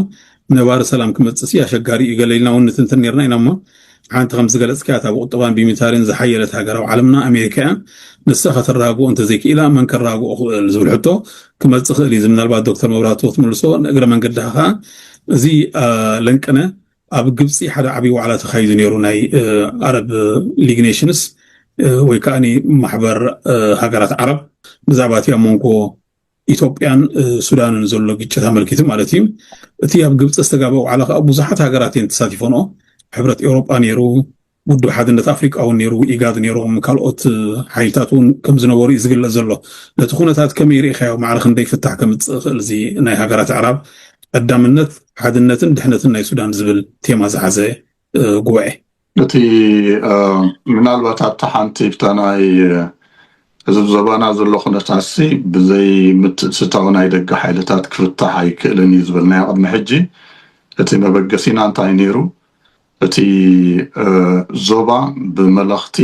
ነባሪ ሰላም ክመፅእ ሲ ኣሸጋሪ እዩ ገለ ኢልና እውን ንትንትን ነርና ኢና እሞ ሓንቲ ከም ዝገለፅካያ እታ ብቁጠባን ብሚታሪን ዝሓየለት ሃገር ኣብ ዓለምና ኣሜሪካ እያ ንሳ ከተረጋግኦ እንተዘይክኢላ መን ከረጋግኦ ክእል ዝብል ሕቶ ክመፅእ ክእል እዩ ምናልባት ዶክተር መብራቱ ክትምልሶ ንእግረ መንገድኻ ከዓ እዚ ለንቅነ ኣብ ግብፂ ሓደ ዓብዪ ዋዕላ ተኻይዱ ነይሩ ናይ ኣረብ ሊግ ኔሽንስ ወይ ከዓ ማሕበር ሃገራት ዓረብ ብዛዕባ እቲ ኣብ መንጎ ኢትዮጵያን ሱዳንን ዘሎ ግጭት ኣመልኪቱ ማለት እዩ እቲ ኣብ ግብፂ ዝተጋበ ዋዕላ ከዓ ብዙሓት ሃገራት እየን ተሳቲፈንኦ ሕብረት ኤውሮጳ ነይሩ ውድብ ሓድነት ኣፍሪቃ እውን ነይሩ፣ ኢጋድ ነይሮም፣ ካልኦት ሓይልታት እውን ከም ዝነበሩ እዩ ዝግለጽ ዘሎ። ነቲ ኩነታት ከመይ ርኢኻዮ? ማዕረ ክንደይ ፍታሕ ከምጽእ ይኽእል እዚ ናይ ሃገራት ኣዕራብ ቀዳምነት ሓድነትን ድሕነትን ናይ ሱዳን ዝብል ቴማ ዝሓዘ ጉባኤ? እቲ ምናልባት ኣብታ ሓንቲ ብታ ናይ እዚ ኣብ ዞባና ዘሎ ኩነታትሲ ብዘይ ምትእትታው ናይ ደገ ሓይልታት ክፍታሕ ኣይክእልን እዩ ዝበልናዮ ቅድሚ ሕጂ እቲ መበገሲና እንታይ ነይሩ? እቲ ዞባ ብመለኽቲ፣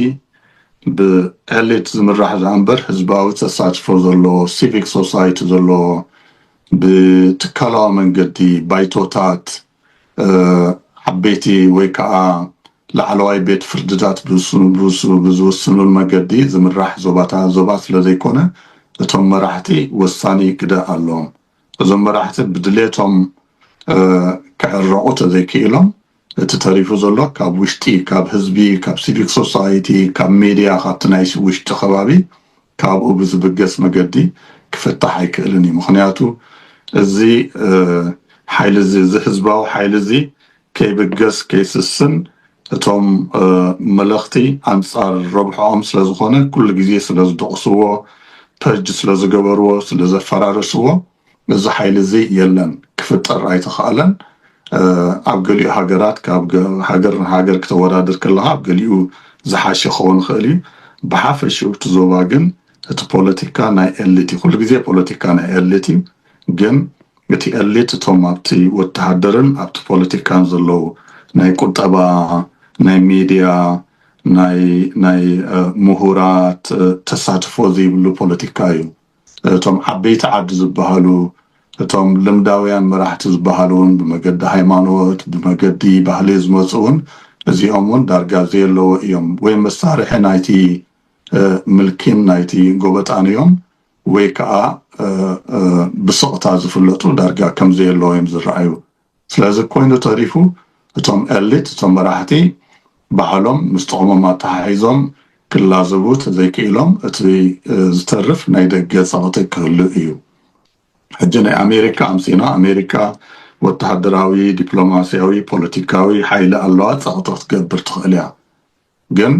ብኤሊት ዝምራሕ ደኣምበር ህዝባዊ ተሳትፎ ዘለዎ፣ ሲቪክ ሶሳይቲ ዘለዎ፣ ብትካላዊ መንገዲ ባይቶታት፣ ዓበይቲ ወይ ከኣ ላዕለዋይ ቤት ፍርድታት ብዝውስኑሉ መገዲ ዝምራሕ ዞባ ስለዘይኮነ እቶም መራሕቲ ወሳኒ ግደ ኣለዎም። እዞም መራሕቲ ብድሌቶም ክዕረቑ ተዘይክኢሎም እቲ ተሪፉ ዘሎ ካብ ውሽጢ ካብ ህዝቢ ካብ ሲቪክ ሶሳይቲ ካብ ሚድያ ካብቲ ናይ ውሽጢ ከባቢ ካብኡ ብዝብገስ መገዲ ክፍታሕ ኣይክእልን እዩ ምኽንያቱ እዚ ሓይሊ እዚ እዚ ህዝባዊ ሓይሊ እዚ ከይብገስ ከይስስን እቶም መለኽቲ ኣንጻር ረብሕኦም ስለ ዝኾነ ኩሉ ግዜ ስለ ዝደቑስዎ ፐርጅ ስለ ዝገበርዎ ስለ ዘፈራረስዎ እዚ ሓይሊ እዚ የለን ክፍጠር ኣይተኻእለን ኣብ ገሊኡ ሃገራት ካብ ሃገር ንሃገር ክተወዳድር ከለኻ ኣብ ገሊኡ ዝሓሸ ክኸውን ይኽእል እዩ ብሓፈሽኡ እቲ ዞባ ግን እቲ ፖለቲካ ናይ ኤሊት እዩ ኩሉ ግዜ ፖለቲካ ናይ ኤሊት እዩ ግን እቲ ኤሊት እቶም ኣብቲ ወተሃደርን ኣብቲ ፖለቲካን ዘለዉ ናይ ቁጠባ ናይ ሚድያ ናይ ናይ ሙሁራት ተሳትፎ ዝይብሉ ፖለቲካ እዩ እቶም ዓበይቲ ዓዲ ዝባሃሉ እቶም ልምዳውያን መራሕቲ ዝባሃሉ እውን ብመገዲ ሃይማኖት ብመገዲ ባህሊ ዝመፁ እውን እዚኦም እውን ዳርጋ ዘየለዉ እዮም ወይ መሳርሒ ናይቲ ምልኪን ናይቲ ጎበጣን እዮም ወይ ከኣ ብስቕታ ዝፍለጡ ዳርጋ ከም ዘየለዉ እዮም ዝረኣዩ። ስለዚ ኮይኑ ተሪፉ እቶም ኤሊት፣ እቶም መራሕቲ ባህሎም ምስ ጥቕሞም ኣተሓሒዞም ክላዘቡ ተዘይክኢሎም እቲ ዝተርፍ ናይ ደገ ጸቕጢ ክህሉ እዩ። ሕጂ ናይ ኣሜሪካ ኣምሲና፣ ኣሜሪካ ወተሃደራዊ፣ ዲፕሎማስያዊ፣ ፖለቲካዊ ሓይሊ ኣለዋ ጸቕጢ ክትገብር ትኽእል እያ። ግን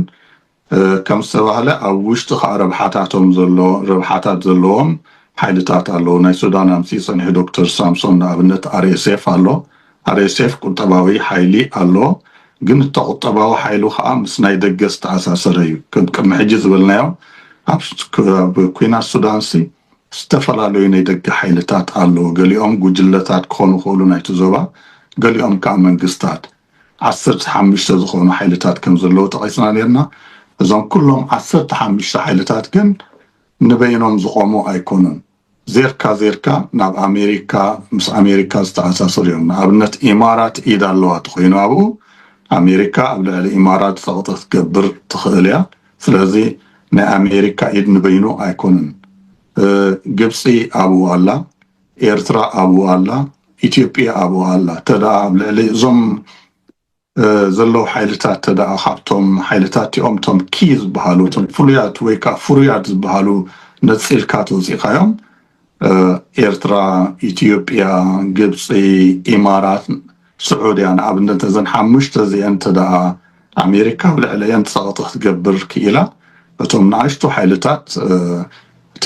ከም ዝተባህለ ኣብ ውሽጢ ከኣ ረብሓታቶም ዘሎ ረብሓታት ዘለዎም ሓይልታት ኣለዉ። ናይ ሱዳን ኣምጺኡ ጸኒሑ ዶክተር ሳምሶን ንኣብነት RSF ኣሎ። RSF ቁጠባዊ ሓይሊ ኣለዎ። ግን እቲ ቁጠባዊ ሓይሉ ከኣ ምስ ናይ ደገ ዝተኣሳሰረ እዩ። ከም ቅድሚ ሕጂ ዝበልናዮ ኣብ ኩናት ሱዳንሲ ዝተፈላለዩ ናይ ደገ ሓይልታት ኣለዉ። ገሊኦም ጉጅለታት ክኾኑ ይኽእሉ ናይቲ ዞባ ገሊኦም ከኣ መንግስታት። ዓሰርተ ሓሙሽተ ዝኾኑ ሓይልታት ከም ዘለዉ ጠቒስና ኔርና። እዞም ኩሎም ዓሰርተ ሓሙሽተ ሓይልታት ግን ንበይኖም ዝቖሙ ኣይኮኑን። ዜርካ ዜርካ ናብ ኣሜሪካ ምስ ኣሜሪካ ዝተኣሳሰሩ እዮም። ንኣብነት ኢማራት ኢድ ኣለዋ ተኾይኑ ኣብኡ ኣሜሪካ ኣብ ልዕሊ ኢማራት ጸቕጢ ክትገብር ትኽእል እያ። ስለዚ ናይ ኣሜሪካ ኢድ ንበይኑ ኣይኮነን። ግብጺ ኣብኡ ኣላ። ኤርትራ ኣብኡ ኣላ፣ ኢትዮጵያ ኣብኡ ኣላ፣ ተደኣ ኣብ ልዕሊ እዞም ዘለዉ ሓይልታት ተደኣ ካብቶም ሓይልታት እቲኦም እቶም ኪ ዝበሃሉ እቶም ፍሉያት ወይ ከዓ ፍሩያት ዝበሃሉ ነፂልካ ተውፂእካዮም ኤርትራ፣ ኢትዮጵያ፣ ግብፂ፣ ኢማራት ስዑድያ ንኣብነት ነዘን ሓሙሽተ እዚኤን እንተድኣ ኣሜሪካ ኣብ ልዕለኤን ጸቕጢ ክትገብር ክኢላ እቶም ንኣሽቱ ሓይልታት እቲ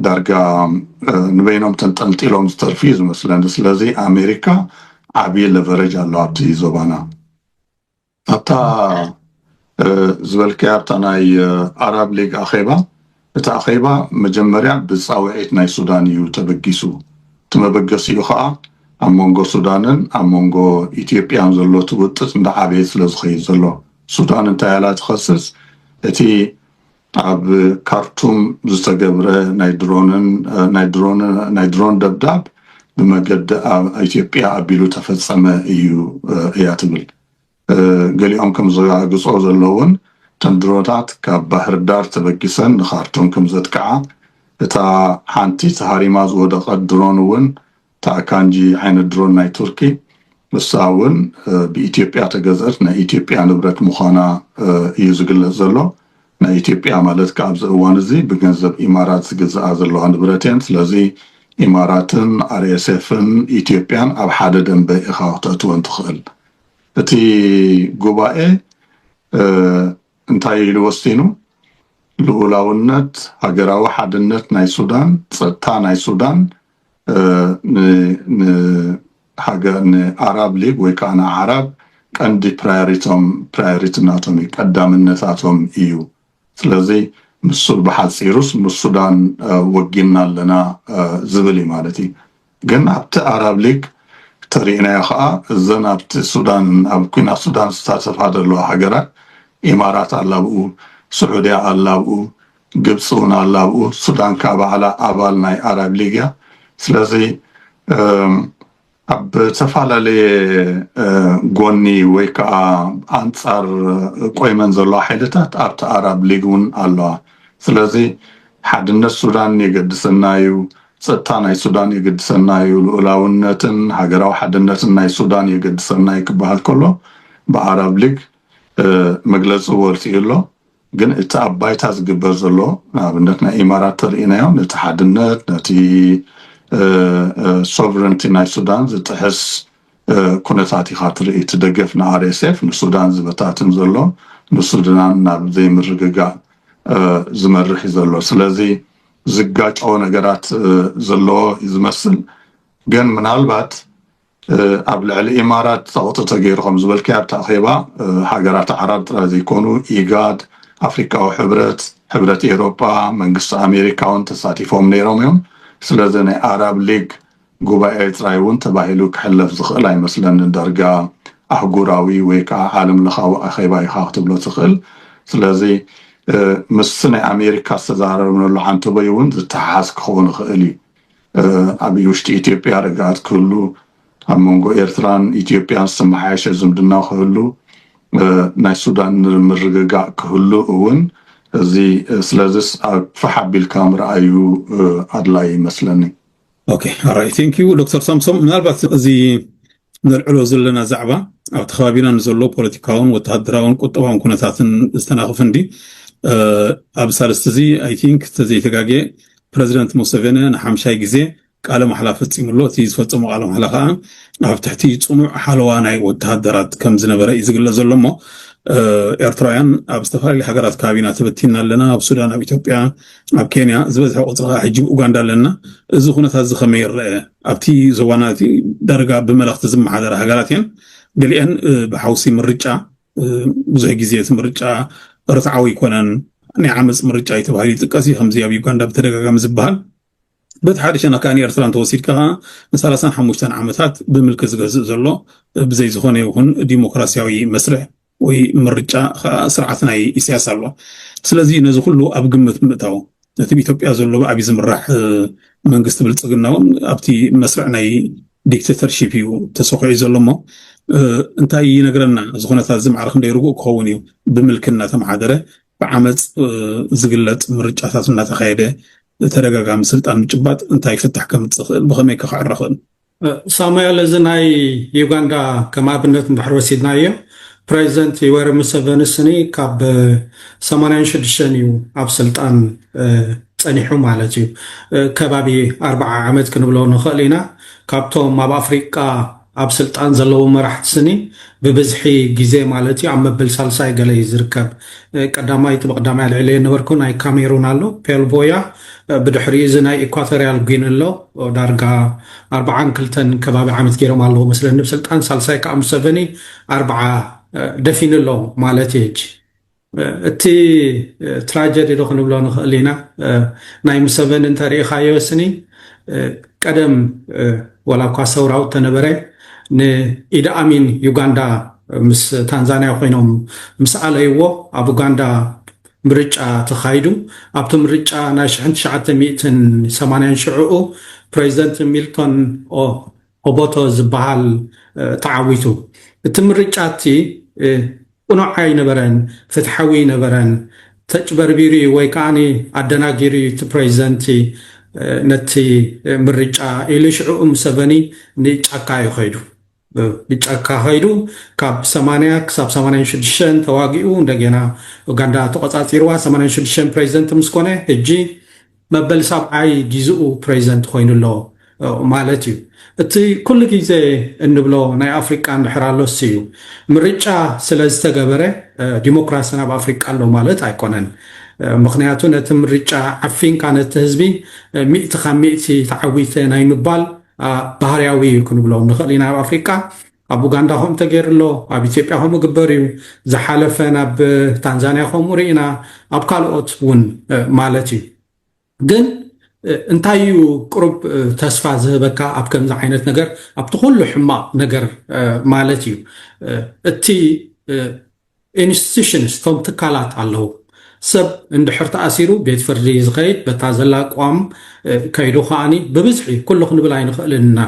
ዳርጋ ንበይኖም ተንጠልጢሎም ዝተርፉ እዩ ዝመስለኒ። ስለዚ ኣሜሪካ ዓብዪ ለቨረጅ ኣሎ ኣብቲ ዞባና። ኣብታ ዝበልካያ ኣብታ ናይ ኣራብ ሊግ ኣኼባ እቲ ኣኼባ መጀመርያ ብጻውዒት ናይ ሱዳን እዩ ተበጊሱ እቲ መበገሲኡ ከኣ ኣብ መንጎ ሱዳንን ኣብ መንጎ ኢትዮጵያን ዘሎ እቲ ውጥጥ እንዳዓበየ ስለ ዝኸይድ ዘሎ ሱዳን እንታይ ኣላ ትኸስስ እቲ ኣብ ካርቱም ዝተገብረ ናይ ድሮንን ናይ ድሮን ናይ ድሮን ደብዳብ ብመገዲ ኣብ ኢትዮጵያ ኣቢሉ ተፈጸመ እዩ እያ ትብል ገሊኦም ከም ዘረጋግጾ ዘለውን እተን ድሮታት ካብ ባህርዳር ተበጊሰን ንካርቱም ከም ዘጥቅዓ እታ ሓንቲ ተሃሪማ ዝወደቐት ድሮን እውን እታ ኣካንጂ ዓይነት ድሮን ናይ ቱርኪ ንሳ እውን ብኢትዮጵያ ተገዝአት ናይ ኢትዮጵያ ንብረት ምዃና እዩ ዝግለጽ ዘሎ ናይ ኢትዮጵያ ማለት ከኣ ኣብዚ እዋን እዚ ብገንዘብ ኢማራት ዝግዝኣ ዘለዋ ንብረት እየን። ስለዚ ኢማራትን ኣርኤስኤፍን ኢትዮጵያን ኣብ ሓደ ደምበ ኢኻ ክተእትወን ትኽእል። እቲ ጉባኤ እንታይ ኢሉ ወሲኑ? ልኡላውነት፣ ሃገራዊ ሓድነት ናይ ሱዳን፣ ጸጥታ ናይ ሱዳን፣ ንሃገር ንኣራብ ሊግ ወይ ከዓ ንኣዕራብ ቀንዲ ፕራዮሪቶም ፕራዮሪቲ ናቶም እዩ ቀዳምነታቶም እዩ ስለዚ ንሱ ብሓፂሩስ ምስ ሱዳን ወጊንና ኣለና ዝብል እዩ ማለት እዩ ግን ኣብቲ ኣራብ ሊግ ተሪእናዮ ከዓ እዘን ኣብቲ ሱዳን ኣብ ኩናት ሱዳን ዝሳተፋ ዘለዋ ሃገራት ኢማራት ኣላ ብኡ ስዑድያ ኣላ ብኡ ግብጺ ውን ኣላ ኣብኡ ሱዳን ከኣ ባዕላ ኣባል ናይ ኣራብ ሊግ እያ ስለዚ ኣብ ዝተፈላለየ ጎኒ ወይ ከኣ ኣንጻር ቆይመን ዘለዋ ሓይልታት ኣብቲ ኣራብ ሊግ ውን ኣለዋ ስለዚ ሓድነት ሱዳን የገድሰና እዩ ጸጥታ ናይ ሱዳን የገድሰና እዩ ልኡላውነትን ሃገራዊ ሓድነትን ናይ ሱዳን የገድሰና እዩ ክበሃል ከሎ ብኣራብ ሊግ መግለጺ ወጺኡ ኣሎ ግን እቲ ኣብ ባይታ ዝግበር ዘሎ ንኣብነት ናይ ኢማራት ተሪኢናዮ ነቲ ሓድነት ነቲ ሶቨረንቲ ናይ ሱዳን ዝጥሕስ ኩነታት ኢኻ ትርኢ እቲ ደገፍ ንኣርኤስኤፍ ንሱዳን ዝበታትን ዘሎ ንሱዳን ናብ ዘይምርግጋእ ዝመርሕ እዩ ዘሎ ስለዚ ዝጋጨወ ነገራት ዘለዎ እዩ ዝመስል ግን ምናልባት ኣብ ልዕሊ ኢማራት ጸቕጢ ተገይሩ ከም ዝበልካዮ ኣብቲ ኣኼባ ሃገራት ዓራብ ጥራይ ዘይኮኑ ኢጋድ፣ ኣፍሪቃዊ ሕብረት፣ ሕብረት ኤሮጳ፣ መንግስቲ ኣሜሪካ እውን ተሳቲፎም ነይሮም እዮም። ስለዚ ናይ ኣራብ ሊግ ጉባኤ ጥራይ እውን ተባሂሉ ክሕለፍ ዝኽእል ኣይመስለንን። ዳርጋ ኣህጉራዊ ወይ ከኣ ዓለምለኻዊ ኣኼባ ኢኻ ክትብሎ ትኽእል። ስለዚ ምስቲ ናይ ኣሜሪካ ዝተዛረብነሉ ዓንተቦይ እውን ዝተሓሓዝ ክኸውን ይኽእል እዩ። ኣብ ውሽጢ ኢትዮጵያ ርግኣት ክህሉ፣ ኣብ መንጎ ኤርትራን ኢትዮጵያን ዝተመሓየሸ ዝምድና ክህሉ፣ ናይ ሱዳን ምርግጋእ ክህሉ እውን እዚ ስለዝስ ፋሕ ኣቢልካ ምርኣዩ ኣድላይ ይመስለኒ። ኦኬ ኣራይ ቴንኪው ዶክተር ሳምሶም ምናልባት እዚ ነልዕሎ ዘለና ዛዕባ ኣብቲ ከባቢና ንዘሎ ፖለቲካውን ወተሃደራውን ቁጠባውን ኩነታትን ዝተናኽፍ እንዲ ኣብ ሳልስቲ እዚ ኣይ ቲንክ ተዘይተጋጌ ፕረዚደንት ሙሰቬነ ንሓምሻይ ግዜ ቃለ ማሕላ ፈፂሙ ኣሎ እቲ ዝፈፀሞ ቃለ ማሕላ ከዓ ኣብ ትሕቲ ፅኑዕ ሓለዋ ናይ ወተሃደራት ከም ዝነበረ እዩ ዝግለፅ ዘሎ እሞ ኤርትራውያን ኣብ ዝተፈላለዩ ሃገራት ከባቢና ተበቲና ኣለና ኣብ ሱዳን ኣብ ኢትዮጵያ ኣብ ኬንያ ዝበዝሐ ቁጽሪ ከኣ ሕጂ ብ ኡጋንዳ ኣለና። እዚ ኩነታት እዚ ከመይ ይረኣ? ኣብቲ ዞባና እቲ ዳርጋ ብመለኽቲ ዝመሓደራ ሃገራት እየን። ገሊኤን ብሓውሲ ምርጫ ብዙሕ ግዜ እቲ ምርጫ ርትዓዊ ኣይኮነን፣ ናይ ዓመጽ ምርጫ እዩ ተባሂሉ ይጥቀስ እዩ፣ ከምዚ ኣብ ዩጋንዳ ብተደጋጋሚ ዝበሃል። በቲ ሓደ ሸነኽ ከኣ ንኤርትራ እንተወሲድካ ከኣ ንሳላሳን ሓሙሽተን ዓመታት ብምልኪ ዝገዝእ ዘሎ ብዘይ ዝኾነ ይኹን ዲሞክራስያዊ መስርሕ ወይ ምርጫ ከኣ ስርዓት ናይ ኢሳያስ ኣሎ። ስለዚ ነዚ ኩሉ ኣብ ግምት ብምእታው ነቲ ብኢትዮጵያ ዘሎ ብኣብይ ዝምራሕ መንግስቲ ብልጽግና እውን ኣብቲ መስርዕ ናይ ዲክተተርሺፕ እዩ ተሰኪዑ ዘሎ እሞ እንታይ ይነግረና እዚ ኩነታት እዚ ማዕረ ክንደይ ርጉእ ክኸውን እዩ ብምልኪ እናተመሓደረ ብዓመፅ ዝግለፅ ምርጫታት እናተካየደ ተደጋጋሚ ስልጣን ምጭባጥ እንታይ ፍታሕ ከምፅእ ክእል ብከመይ ከክዕረ ክእል ሳሙኤል እዚ ናይ ዩጋንዳ ከም ኣብነት እንድሕር ወሲድናዮ ፕረዚደንት ዩወሪ ሙሰቨኒ ስኒ ካብ ሰማንያን ሽዱሽተን እዩ ኣብ ስልጣን ጸኒሑ ማለት እዩ ከባቢ ኣርባዓ ዓመት ክንብሎ ንኽእል ኢና ካብቶም ኣብ ኣፍሪቃ ኣብ ስልጣን ዘለዉ መራሕቲ ስኒ ብብዝሒ ግዜ ማለት እዩ ኣብ መበል ሳልሳይ ገለ እዩ ዝርከብ ቀዳማይ እቲ ብቀዳማይ ኣልዒለዮ ነበርኩ ናይ ካሜሩን ኣሎ ፔልቮያ ብድሕሪኡ እዚ ናይ ኢኳቶርያል ጒኒ ኣሎ ዳርጋ ኣርብዓን ክልተን ከባቢ ዓመት ገይሮም ኣለዉ መስለኒ ብስልጣን ሳልሳይ ከዓ ሙሰቨኒ ኣርብዓ ደፊኑ ኣሎ ማለት እዩ ሕጂ እቲ ትራጀዲ ዶ ክንብሎ ንኽእል ኢና ናይ ሙሰቨኒ እንተሪኢኻዮ ስኒ ቀደም ዋላ እኳ ሰውራዊ እተነበረ ንኢደኣሚን ዩጋንዳ ምስ ታንዛንያ ኮይኖም ምስ ኣለይዎ ኣብ ኡጋንዳ ምርጫ ተኻይዱ ኣብቲ ምርጫ ናይ ሽሕን ትሽዓተ ሚእትን ሰማንያን ሽዕኡ ፕሬዚደንት ሚልቶን ኦ ኦቦቶ ዝበሃል ተዓዊቱ። እቲ ምርጫ'ቲ ቅኑዕ ኣይነበረን፣ ፍትሓዊ ኣይነበረን፣ ተጭበርቢሩ'ዩ ወይ ከኣ ኣደናጊሩ'ዩ እቲ ፕረዚደንት ነቲ ምርጫ ኢሉ ሽዕኡ ሙሰቨኒ ንጫካ'ዩ ከይዱ። ንጫካ ከይዱ ካብ ሰማንያ ክሳብ ሰማንያን ሽዱሽተን ተዋጊኡ እንደገና ኡጋንዳ ተቖጻጺርዋ ሰማንያን ሽዱሽተን ፕረዚደንት ምስ ኮነ ህጂ መበል ሳብዓይ ጊዝኡ ፕሬዚደንት ኾይኑ ኣሎ ማለት እዩ። እቲ ኩሉ ጊዘ እንብሎ ናይ ኣፍሪቃ እንድሕር ኣሎስ እዩ። ምርጫ ስለዝተገበረ ዲሞክራሲ ናብ ኣፍሪቃ ኣሎ ማለት ኣይኮነን። ምኽንያቱ ነቲ ምርጫ ዓፊንካ ነቲ ህዝቢ ሚእቲ ካብ ሚእቲ ተዓዊተ ናይ ምባል ባህርያዊ እዩ ክንብሎ ንኽእል ኢና ኣብ ኣፍሪቃ። ኣብ ኡጋንዳ ከምኡ ተገይሩ ኣሎ፣ ኣብ ኢትዮጵያ ከምኡ ግበር እዩ፣ ዝሓለፈ ናብ ታንዛንያ ከምኡ ርኢና፣ ኣብ ካልኦት እውን ማለት እዩ። ግን እንታይ እዩ ቅሩብ ተስፋ ዝህበካ ኣብ ከምዚ ዓይነት ነገር ኣብቲ ኩሉ ሕማቕ ነገር ማለት እዩ እቲ ኢንስቲቱሽንስ እቶም ትካላት ኣለዉ። ሰብ እንድሕር ተኣሲሩ ቤት ፍርዲ እዩ ዝኸይድ፣ በታ ዘላ ቅዋም ከይዱ ከኣ ብብዝሒ ኩሉ ክንብል ኣይንኽእልን ኢና።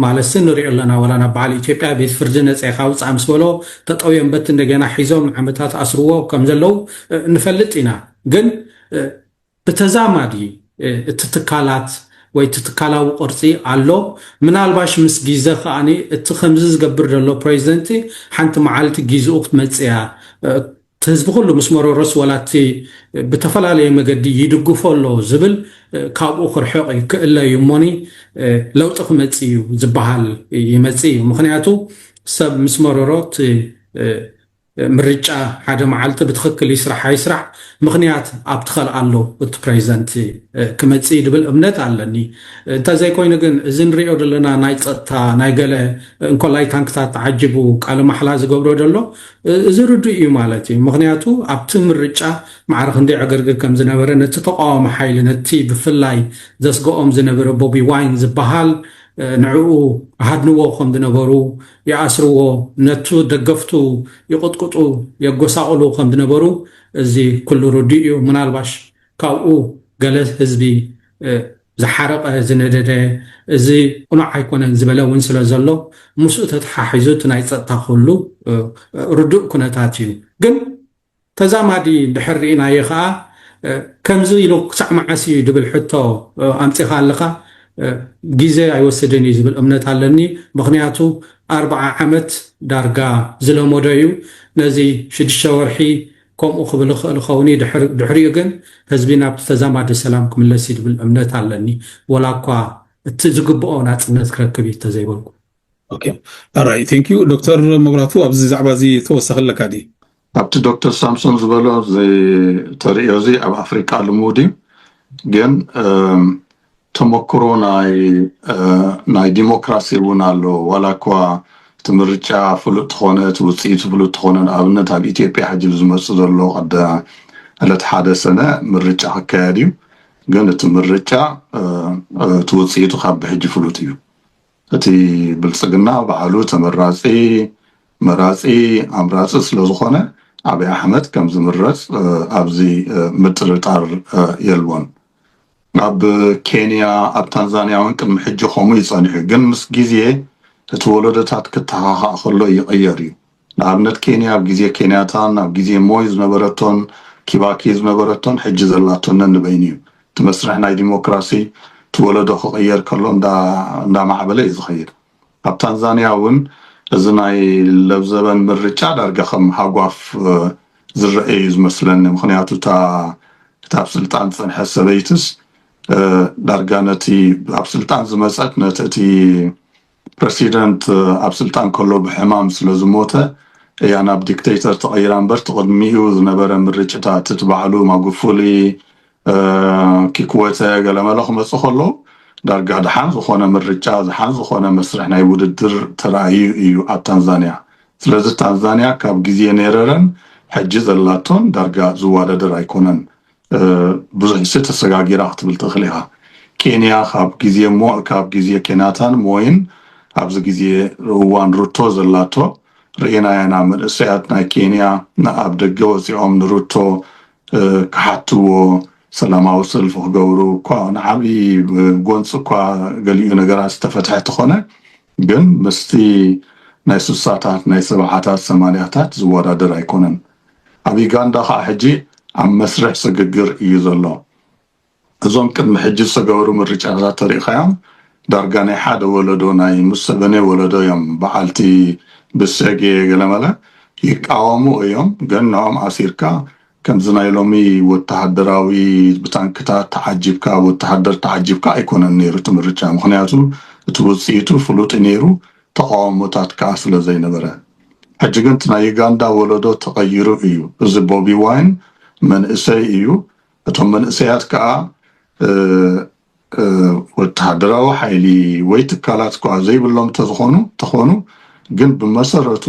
ማለትሲ ንሪኦ ኣለና ዋላ ናብ በዓል ኢትዮጵያ ቤት ፍርዲ ነጸ ኢኻ ውጻእ ምስ በሎ ጠጠውዮም በቲ እንደገና ሒዞም ንዓመታት ኣስርዎ ከም ዘለዉ ንፈልጥ ኢና ግን ብተዛማዲ እቲ ትካላት ወይ እቲ ትካላዊ ቅርጺ ኣሎ ምናልባሽ ምስ ጊዘ ከኣ እቲ ከምዚ ዝገብር ዘሎ ፕሬዚደንቲ ሓንቲ መዓልቲ ጊዝኡ ክትመጽእ እያ እቲ ህዝቢ ኩሉ ምስ መረሮስ ወላ እቲ ብተፈላለየ መገዲ ይድግፎ ኣሎ ዝብል ካብኡ ክርሕቕ እዩ ክእለ እዩ እሞኒ ለውጢ ክመጽእ እዩ ዝበሃል ይመጽእ እዩ ምክንያቱ ሰብ ምስ መረሮ እቲ ምርጫ ሓደ መዓልቲ ብትኽክል ይስራሕ ኣይስራሕ ምኽንያት ኣብቲ ከልኣሎ እቲ ፕረዚደንት ክመፅእ እዩ ዝብል እምነት ኣለኒ። እንተዘይኮይኑ ግን እዚ ንሪኦ ዘለና ናይ ፀጥታ ናይ ገለ እንኮላይ ታንክታት ተዓጂቡ ቃለ ማሕላ ዝገብሮ ዘሎ እዚ ርዱእ እዩ ማለት እዩ። ምኽንያቱ ኣብቲ ምርጫ ማዕረ ክንደይ ዕግርግር ከምዝነበረ ነቲ ተቓዋሚ ሓይሊ ነቲ ብፍላይ ዘስገኦም ዝነበረ ቦቢ ዋይን ዝበሃል ንዕኡ ሃድንዎ ከምዝነበሩ ይኣስርዎ፣ ነቱ ደገፍቱ ይቕጥቅጡ፣ የጎሳቕሉ ከም ዝነበሩ እዚ ኩሉ ርዱእ እዩ። ምናልባሽ ካብኡ ገለ ህዝቢ ዝሓረቐ፣ ዝነደደ፣ እዚ ቅኑዕ ኣይኮነን ዝበለ እውን ስለ ዘሎ ምስኡ ተተሓሒዙ እቲ ናይ ጸጥታ ኩሉ ርዱእ ኩነታት እዩ። ግን ተዛማዲ እንድሕር ርኢናዮ ከኣ ከምዚ ኢሉ ክሳዕ መዓስ ኢዩ ድብል ሕቶ ኣምጺኻ ኣለኻ። ግዜ ኣይወስድን ኢዩ ዝብል እምነት ኣለኒ። ምኽንያቱ ኣርብዓ ዓመት ዳርጋ ዝለመዶ ኢዩ። ነዚ ሽዱሽተ ወርሒ ከምኡ ክብል ይኽእል ይኸውን ኢዩ። ድሕሪኡ ግን ህዝቢ ናብቲ ተዛማዲ ሰላም ክምለስ ኢዩ ድብል እምነት ኣለኒ። ወላኳ እቲ ዝግብኦ ናጽነት ክረክብ ኢዩ እንተዘይበልኩ። ኣራይ ቴንክ ዩ ዶክተር መብራቱ ኣብዚ ዛዕባ እዚ ተወሳኺ ኣለካ ድዩ ኣብቲ ዶክተር ሳምሶን ዝበሎ ተርእዮ እዚ ኣብ ኣፍሪቃ ልሙድ እዩ ግን ተመክሮ ናይ ዲሞክራሲ እውን ኣሎ ዋላ እኳ እቲ ምርጫ ፍሉጥ ተኾነ እቲ ውፅኢቱ ፍሉጥ ተኾነ ንኣብነት ኣብ ኢትዮጵያ ሕጂ ዝመፅእ ዘሎ ቀዳ ዕለት ሓደ ሰነ ምርጫ ክካየድ እዩ ግን እቲ ምርጫ እቲ ውፅኢቱ ካብ ብሕጂ ፍሉጥ እዩ እቲ ብልፅግና ባዕሉ ተመራፂ፣ መራፂ፣ ኣምራፂ ስለዝኾነ ኣብይ ኣሕመድ ከምዝምረፅ ኣብዚ ምጥርጣር የልቦን። ኣብ ኬንያ ኣብ ታንዛንያ እውን ቅድሚ ሕጂ ከምኡ እዩ ፀኒሑ ግን ምስ ግዜ እቲ ወለዶታት ክተኻኻእ ከሎ ይቕየር እዩ። ንኣብነት ኬንያ ኣብ ግዜ ኬንያታን ኣብ ግዜ ሞይ ዝነበረቶን ኪባኪ ዝነበረቶን ሕጂ ዘላቶን ነንበይኑ እዩ። እቲ መስርሕ ናይ ዲሞክራሲ እቲ ወለዶ ክቕየር ከሎ እንዳማዕበለ እዩ ዝኸይድ። ኣብ ታንዛንያ እውን እዚ ናይ ለብዘበን ምርጫ ዳርጋ ከም ሃጓፍ ዝረኤ እዩ ዝመስለኒ ምኽንያቱ እታ ኣብ ስልጣን ዝጸንሐት ሰበይቲስ ዳርጋ ነቲ ኣብ ስልጣን ዝመጸት ነቲ እቲ ፕረሲደንት ኣብ ስልጣን ከሎ ብሕማም ስለ ዝሞተ እያ ናብ ዲክተይተር ተቐይራ እምበር እቲ ቅድሚኡ ዝነበረ ምርጭታት እቲ ባዕሉ ማጉፉሊ ኪክወተ ገለመለ ክመፅእ ከሎ ዳርጋ ድሓን ዝኾነ ምርጫ ዝሓን ዝኾነ መስርሕ ናይ ውድድር ተራእዩ እዩ ኣብ ታንዛንያ ስለዚ ታንዛንያ ካብ ግዜ ኔረረን ሕጂ ዘላቶን ዳርጋ ዝዋዳደር ኣይኮነን ብዙሕሲ ተሰጋጊራ ክትብል ትኽል ኢኻ። ኬንያ ካብ ግዜ ሞይ ካብ ግዜ ኬናታን ሞይን ኣብዚ ግዜ እዋን ሩቶ ዘላቶ ርኢናዮ ኢና። መንእሰያት ናይ ኬንያ ንኣብ ደገ ወጺኦም ንሩቶ ክሓትዎ ሰላማዊ ሰልፊ ክገብሩ እኳ ንዓቢ ጎንጺ እኳ ገሊኡ ነገራት ዝተፈትሐ ተኾነ ግን ምስቲ ናይ ሱሳታት ናይ ሰብዓታት ሰማንያታት ዝወዳደር ኣይኮነን ኣብ ዩጋንዳ ከኣ ሕጂ ኣብ መስርሕ ስግግር እዩ ዘሎ እዞም ቅድሚ ሕጂ ዝተገበሩ ምርጫታት ተሪኢኻዮም ዳርጋ ናይ ሓደ ወለዶ ናይ ሙሰቨኔ ወለዶ እዮም በዓልቲ ብሴጌ ገለመለ ይቃወሙ እዮም ግን ንኦም ኣሲርካ ከምዚ ናይ ሎሚ ወተሃደራዊ ብታንክታት ተዓጂብካ ወተሃደር ተዓጂብካ ኣይኮነን ነይሩ እቲ ምርጫ ምኽንያቱ እቲ ውጽኢቱ ፍሉጥ'ዩ ነይሩ ተቓውሞታት ከኣ ስለ ዘይነበረ ሕጂ ግን እቲ ናይ ዩጋንዳ ወለዶ ተቐይሩ እዩ እዚ ቦቢ ዋይን መንእሰይ እዩ እቶም መንእሰያት ከኣ ወተሃደራዊ ሓይሊ ወይ ትካላት ከኣ ዘይብሎም ተዝኾኑ ተኾኑ ግን ብመሰረቱ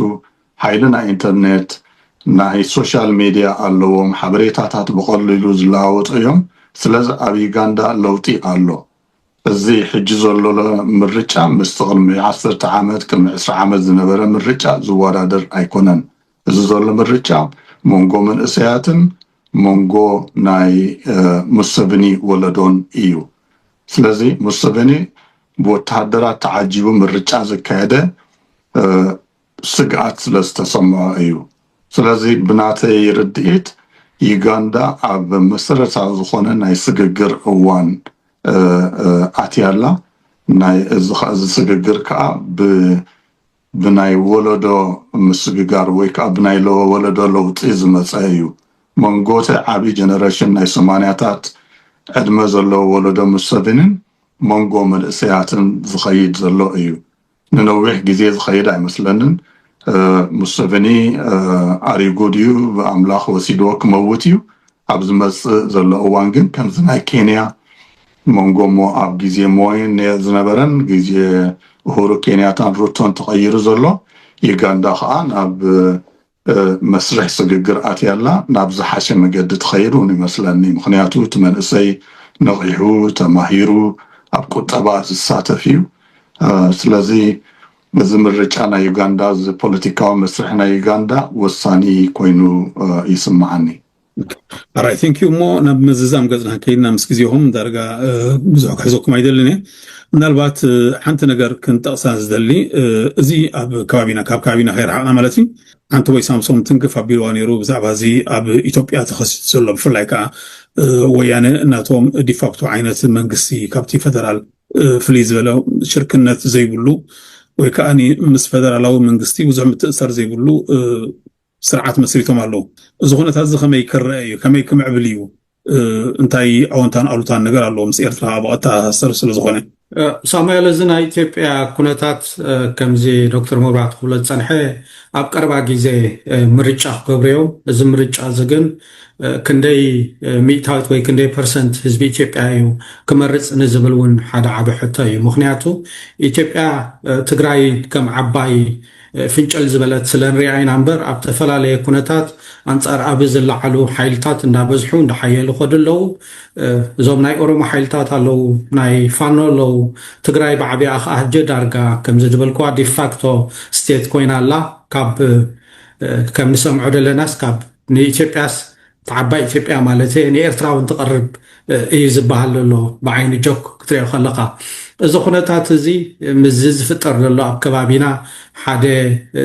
ሓይሊ ናይ ኢንተርኔት፣ ናይ ሶሻል ሜድያ ኣለዎም፣ ሓበሬታታት ብቐሊሉ ዝለዋወጡ እዮም፣ ስለዚ ኣብ ዩጋንዳ ለውጢ ኣሎ። እዚ ሕጂ ዘሎሎ ምርጫ ምስቲ ቅድሚ ዓሰርተ ዓመት፣ ቅድሚ ዕስራ ዓመት ዝነበረ ምርጫ ዝወዳደር ኣይኮነን። እዚ ዘሎ ምርጫ መንጎ መንእሰያትን መንጎ ናይ ሙሰቭኒ ወለዶን እዩ። ስለዚ ሙሰቭኒ ብወተሃደራት ተዓጂቡ ምርጫ ዘካየደ ስግኣት ስለ ዝተሰምዖ እዩ። ስለዚ ብናተይ ርድኢት ዩጋንዳ ኣብ መሰረታዊ ዝኾነ ናይ ስግግር እዋን ኣትያ ኣላ። ናይ እዚ ስግግር ከኣ ብ ብናይ ወለዶ ምስግጋር ወይ ከኣ ብናይ ወለዶ ለውጢ ዝመጸ እዩ። መንጎቲ ዓቢ ጀነረሽን ናይ ሰማንያታት ዕድመ ዘለዎ ወለዶ ሙሰቪኒን መንጎ መንእሰያትን ዝኸይድ ዘሎ እዩ። ንነዊሕ ግዜ ዝኸይድ ኣይመስለንን ሙሰቨኒ ኣሪጉ ድዩ ብኣምላኽ ወሲድዎ ክመውት እዩ ኣብ ዝመጽእ ዘሎ እዋን ግን ከምዚ ናይ ኬንያ መንጎ እሞ ኣብ ግዜ ሞይን ነየር ዝነበረን ግዜ እሁሩ ኬንያታን ሩቶን ተቐይሩ ዘሎ ዩጋንዳ ከዓ ናብ መስርሕ ስግግር ኣትያ ኣላ ናብ ዝሓሸ መገዲ ትኸይድ ውን ይመስለኒ ምኽንያቱ እቲ መንእሰይ ነቒሑ ተማሂሩ ኣብ ቁጠባ ዝሳተፍ እዩ ስለዚ እዚ ምርጫ ናይ ዩጋንዳ እዚ ፖለቲካዊ መስርሕ ናይ ዩጋንዳ ወሳኒ ኮይኑ ይስመዓኒ። ኣራይ ቴንክ ዩ እሞ ናብ ምዝዛም ገጽና ከይድና ምስ ግዜኹም ዳርጋ ብዙሕ ክሕዘኩም ኣይደልን እየ ምናልባት ሓንቲ ነገር ክንጠቕሳ ዝደሊ እዚ ኣብ ከባቢና ካብ ከባቢና ከይረሓቕና ማለት እዩ ሓንቲ ወይ ሳምሶም ትንክፍ ኣቢልዋ ነይሩ ብዛዕባ እዚ ኣብ ኢትዮጵያ ተኸሲቱ ዘሎ ብፍላይ ከዓ ወያነ እናቶም ዲፋክቶ ዓይነት መንግስቲ ካብቲ ፈደራል ፍልይ ዝበለ ሽርክነት ዘይብሉ ወይ ከዓ ምስ ፈደራላዊ መንግስቲ ብዙሕ ምትእሳር ዘይብሉ ስርዓት መስሪቶም ኣለዉ። እዚ ኩነታት እዚ ከመይ ክረኣ እዩ? ከመይ ክምዕብል እዩ? እንታይ ኣወንታን ኣሉታን ነገር ኣለዎ? ምስ ኤርትራ ከኣ ብቐጥታ ዝተኣሳሰር ስለ ዝኾነ። ሳሙኤል እዚ ናይ ኢትዮጵያ ኩነታት ከምዚ ዶክተር መብራህቱ ክብሎ ዝጸንሐ ኣብ ቀረባ ግዜ ምርጫ ክገብሩ እዮም። እዚ ምርጫ እዚ ግን ክንደይ ሚእታዊት ወይ ክንደይ ፐርሰንት ህዝቢ ኢትዮጵያ እዩ ክመርጽ ንዝብል እውን ሓደ ዓቢ ሕቶ እዩ። ምኽንያቱ ኢትዮጵያ ትግራይ ከም ዓባይ ፍንጭል ዝበለት ስለንሪኣ ኢና እምበር ኣብ ተፈላለየ ኩነታት ኣንፃር ኣብይ ዝለዓሉ ሓይልታት እንዳበዝሑ እንዳሓየሉ ይኸዱ ኣለው። እዞም ናይ ኦሮሞ ሓይልታት ኣለው፣ ናይ ፋኖ ኣለው፣ ትግራይ ብዓቢኣ ከዓ ሕጂ ዳርጋ ከምዚ ዝበልክዋ ዲፋክቶ ስቴት ኮይና ኣላ። ካብ ከም ንሰምዖ ደለናስ ካብ ንኢትዮጵያስ ዓባይ ኢትዮጵያ ማለት ንኤርትራውን ትቐርብ እዩ ዝበሃል ዘሎ ብዓይኒ ጆክ ክትሪኦ ከለኻ እዚ ኩነታት እዚ ምስዚ ዝፍጠር ዘሎ ኣብ ከባቢና ሓደ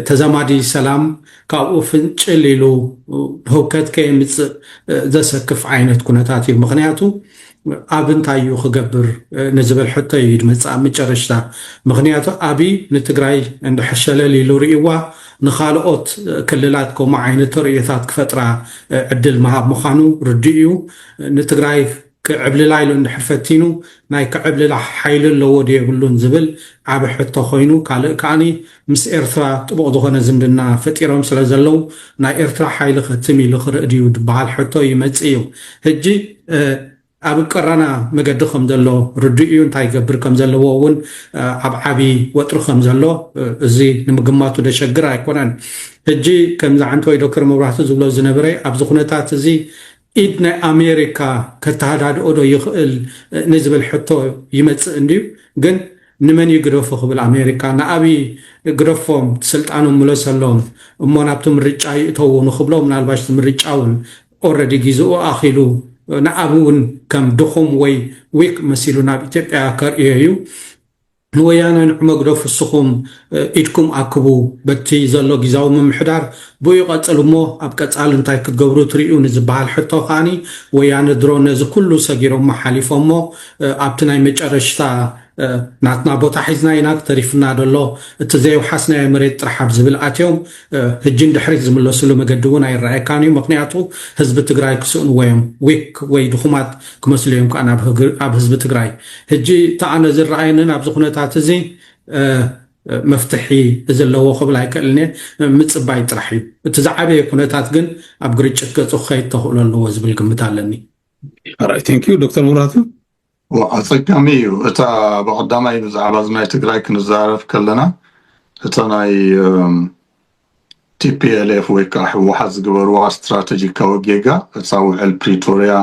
ተዛማዲ ሰላም ካብኡ ፍንጭል ኢሉ ህውከት ከየምፅእ ዘሰክፍ ዓይነት ኩነታት እዩ ምክንያቱ ኣብ እንታይ እዩ ክገብር ንዝብል ሕቶ እዩ ድመፅእ ኣብ ምጨረሽታ ምክንያቱ ኣብይ ንትግራይ እንድሕር ሸለል ኢሉ ሪእዋ ንካልኦት ክልላት ከምኡ ዓይነት ተርእዮታት ክፈጥራ ዕድል ምሃብ ምካኑ ርዱእ እዩ ንትግራይ ክዕብልላ ኢሉ እንድሕር ፈቲኑ ናይ ክዕብልላ ሓይሊ ኣለዎ ዶ የብሉን ዝብል ዓብይ ሕቶ ኮይኑ ካልእ ከኣ ምስ ኤርትራ ጥቡቕ ዝኾነ ዝምድና ፈጢሮም ስለ ዘለዉ ናይ ኤርትራ ሓይሊ ከ ትም ኢሉ ክርእ ድዩ ድበሃል ሕቶ ይመጽእ እዩ። ህጂ ኣብ ቀራና መገዲ ከም ዘሎ ርዱእ እዩ። እንታይ ይገብር ከም ዘለዎ እውን ኣብ ዓቢ ወጥሪ ከም ዘሎ እዚ ንምግማቱ ደሸግር ኣይኮነን። ህጂ ከም ዝዓንተወይ ዶክተር መብራህቱ ዝብሎ ዝነብረ ኣብዚ ኩነታት እዚ ኢድ ናይ ኣሜሪካ ከተሃዳድኦ ዶ ይኽእል ንዝብል ሕቶ ይመጽእ እንድዩ ግን ንመን እዩ ግደፉ ክብል ኣሜሪካ ንኣብይ ግደፎም ስልጣኖም ምለሰሎም እሞ ናብቲ ምርጫ ይእተዉ ንኽብሎ ምናልባሽ እቲ ምርጫ ውን ኦረዲ ጊዝኡ ኣኺሉ ንኣብይ ውን ከም ድኹም ወይ ዊክ መሲሉ ናብ ኢትዮጵያ ከርእዮ እዩ ንወያነ ንዕመግዶ ፍስኹም ኢድኩም ኣክቡ በቲ ዘሎ ጊዛዊ ምምሕዳር ብኡይ ቐፅል እሞ ኣብ ቀፃሊ እንታይ ክትገብሩ ትሪኡ ንዝበሃል ሕቶ ከኣኒ ወያነ ድሮ ነዚ ኩሉ ሰጊሮሞ ሓሊፎሞ ኣብቲ ናይ መጨረሽታ ናትና ቦታ ሒዝና ኢና ተሪፍና ደሎ እቲ ዘየውሓስናዮ መሬት ጥራሕ ኣብዝብል ኣትዮም ህጂ ንድሕሪት ዝምለስሉ መገዲ እውን ኣይረኣየካን እዩ ምክንያቱ ህዝቢ ትግራይ ክስእንዎ እዮም ዊክ ወይ ድኩማት ክመስሉ እዮም ከኣ ኣብ ህዝቢ ትግራይ ህጂ እቲ ኣነ ዝረኣየንን ኣብዚ ኩነታት እዚ መፍትሒ ዘለዎ ክብል ኣይክእልን እየ ምፅባይ ጥራሕ እዩ እቲ ዝዓበየ ኩነታት ግን ኣብ ግርጭት ገፁ ክኸይድ ተኽእሎ ኣለዎ ዝብል ግምት ኣለኒ ራይት ቴንክ ዩ ዶክተር ሙራቱ ኣጸጋሚ እዩ እታ ብቀዳማይ ብዛዕባ ናይ ትግራይ ክንዛረብ ከለና እታ ናይ ቲፒኤልኤፍ ወይ ከዓ ህወሓት ዝገበርዋ ስትራቴጂካዊ ጌጋ እታ ውዕል ፕሪቶሪያ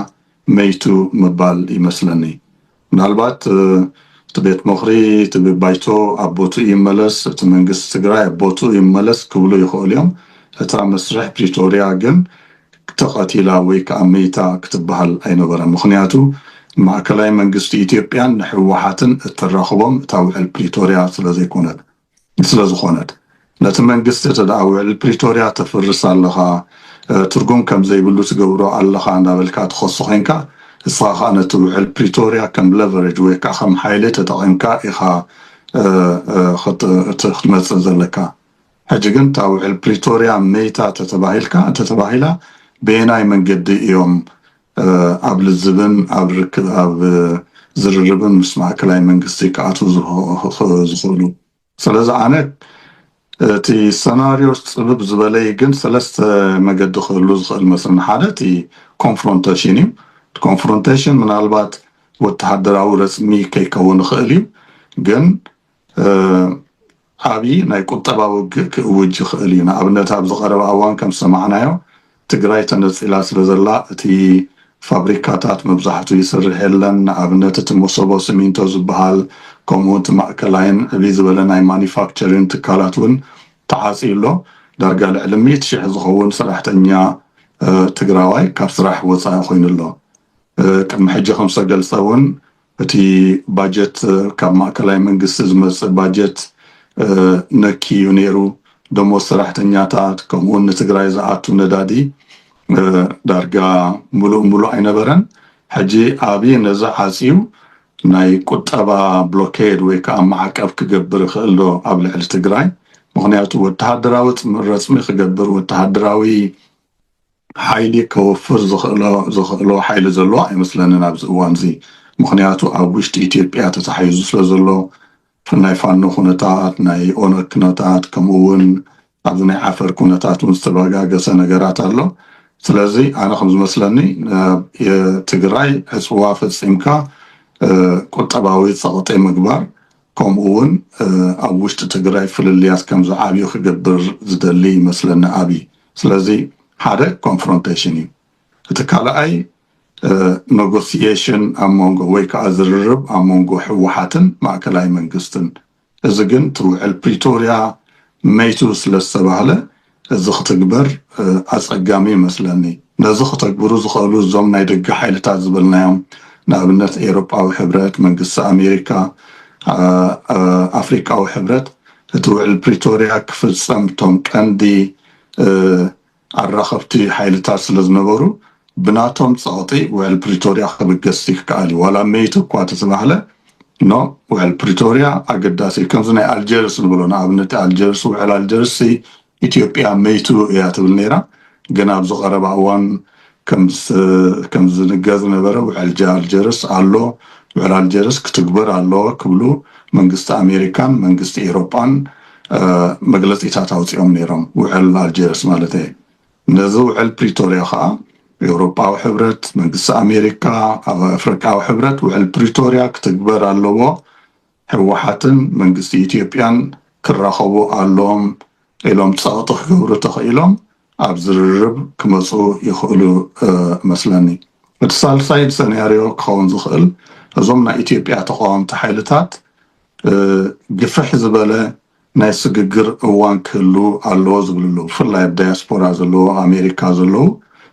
መይቱ ምባል ይመስለኒ ምናልባት እቲ ቤት ምኽሪ እቲ ባይቶ ኣብ ቦትኡ ይመለስ እቲ መንግስቲ ትግራይ ኣብ ቦትኡ ይመለስ ክብሉ ይኽእሉ እዮም እታ መስርሕ ፕሪቶሪያ ግን ተቐቲላ ወይ ከኣ መይታ ክትበሃል ኣይነበረን። ምኽንያቱ ማእከላይ መንግስቲ ኢትዮጵያን ንህወሓትን እተራኽቦም እታ ውዕል ፕሪቶርያ ስለዘይኮነት ስለዝኾነት። ነቲ መንግስቲ እተደኣ ውዕል ፕሪቶርያ ተፍርስ ኣለኻ፣ ትርጉም ከምዘይብሉ ትገብሮ ኣለኻ እንዳበልካ ትኸሶ ዄንካ፣ እስኻ ከኣ ነቲ ውዕል ፕሪቶርያ ከም ለቨረጅ ወይ ከኣ ከም ሓይሊ ተጠቒምካ ኢኻ ክትመጽእ ዘለካ። ሕጂ ግን እታ ውዕል ፕሪቶርያ መይታ ተተባሂልካ ተተባሂላ በየናይ መንገዲ እዮም ኣብ ልዝብን ኣብ ርክብ ኣብ ዝርርብን ምስ ማእከላይ መንግስቲ ክኣትዉ ዝኽእሉ? ስለዚ ኣነ እቲ ሰናርዮ ጽብብ ዝበለይ ግን ሰለስተ መገዲ ክህሉ ዝኽእል መስለኒ። ሓደ እቲ ኮንፍሮንተሽን እዩ። እቲ ኮንፍሮንተሽን ምናልባት ወተሃደራዊ ረጽሚ ከይከውን ይኽእል እዩ ግን ዓብዪ ናይ ቁጠባ ውግእ ክእውጅ ይኽእል እዩ። ንኣብነት ኣብዚ ቀረባ እዋን ከም ዝሰማዕናዮ ትግራይ ተነፂላ ስለ ዘላ እቲ ፋብሪካታት መብዛሕቱ ይስርሕ የለን። ንኣብነት እቲ መሶቦ ስሚንቶ ዝበሃል ከምኡ እውን እቲ ማእከላይን ዕብይ ዝበለ ናይ ማኑፋክቸሪን ትካላት እውን ተዓፅዩ ኣሎ። ዳርጋ ልዕሊ ሚእቲ ሽሕ ዝኸውን ሰራሕተኛ ትግራዋይ ካብ ስራሕ ወፃኢ ኮይኑ ኣሎ። ቅድሚ ሕጂ ከም ዝተገልፀ እውን እቲ ባጀት ካብ ማእከላይ መንግስቲ ዝመጽእ ባጀት ነክ እዩ ነይሩ። ደሞዝ ሰራሕተኛታት ከምኡውን ንትግራይ ዝኣቱ ነዳዲ ዳርጋ ምሉእ ምሉእ ኣይነበረን። ሕጂ ኣብዪ ነዚ ዓጽዩ ናይ ቁጠባ ብሎኬድ ወይ ከዓ ማዕቀብ ክገብር ይኽእል ዶ ኣብ ልዕሊ ትግራይ? ምኽንያቱ ወተሃደራዊ ረጽሚ ክገብር ወተሃደራዊ ሓይሊ ከወፍር ዘኽእሎ ሓይሊ ዘሎ ኣይመስለንን ኣብዚ እዋንዚ። ምኽንያቱ ኣብ ውሽጢ ኢትዮጵያ ተታሒዙ ስለዘሎ ናይ ፋኖ ኩነታት፣ ናይ ኦነግ ኩነታት ከምኡ እውን ኣብዚ ናይ ዓፈር ኩነታት እውን ዝተበጋገሰ ነገራት ኣሎ። ስለዚ ኣነ ከም ዝመስለኒ ናብ ትግራይ ዕፅዋ ፈፂምካ ቁጠባዊ ፀቕጢ ምግባር ከምኡ እውን ኣብ ውሽጢ ትግራይ ፍልልያት ከም ዝዓብዩ ክገብር ዝደሊ ይመስለኒ ኣብይ። ስለዚ ሓደ ኮንፍሮንቴሽን እዩ እቲ ካልኣይ ነጎስየሽን ኣብ መንጎ ወይ ከዓ ዝርርብ ኣብ መንጎ ህወሓትን ማእከላይ መንግስትን እዚ ግን እቲ ውዕል ፕሪቶርያ መይቱ ስለ ዝተባህለ እዚ ክትግበር ኣፀጋሚ ይመስለኒ ነዚ ክተግብሩ ዝኽእሉ እዞም ናይ ደገ ሓይልታት ዝበልናዮም ንኣብነት ኤሮጳዊ ሕብረት መንግስቲ ኣሜሪካ ኣፍሪቃዊ ሕብረት እቲ ውዕል ፕሪቶርያ ክፍፀም እቶም ቀንዲ ኣራኸብቲ ሓይልታት ስለዝነበሩ ብናቶም ፀቕጢ ውዕል ፕሪቶርያ ክብገስ ይከኣል እዩ ዋላ መይት እኳ ተተባህለ ኖ ውዕል ፕሪቶርያ ኣገዳሲ እዩ ከምዚ ናይ ኣልጀርስ ንብሎ ንኣብነት ኣልጀርስ ውዕል ኣልጀርስ ኢትዮጵያ መይቱ እያ ትብል ነይራ ግን ኣብዚ ቀረባ እዋን ከም ዝንገር ዝነበረ ውዕል ኣልጀርስ ኣሎ ውዕል ኣልጀርስ ክትግበር ኣለዎ ክብሉ መንግስቲ ኣሜሪካን መንግስቲ ኤሮጳን መግለጺታት ኣውጺኦም ነይሮም ውዕል ኣልጀርስ ማለተይ ነዚ ውዕል ፕሪቶርያ ከኣ ኤውሮጳዊ ሕብረት መንግስቲ ኣሜሪካ ኣፍሪቃዊ ሕብረት ውዕል ፕሪቶርያ ክትግበር ኣለዎ ህወሓትን መንግስቲ ኢትዮጵያን ክራኸቡ ኣለዎም ኢሎም ፀቕጢ ክገብሩ ተኽኢሎም ኣብ ዝርርብ ክመፁ ይኽእሉ እመስለኒ። እቲ ሳልሳይ ሰናርዮ ክኸውን ዝኽእል እዞም ናይ ኢትዮጵያ ተቓወምቲ ሓይልታት ግፍሕ ዝበለ ናይ ስግግር እዋን ክህሉ ኣለዎ ዝብልሉ ብፍላይ ኣብ ዳያስፖራ ዘለዎ ኣሜሪካ ዘለው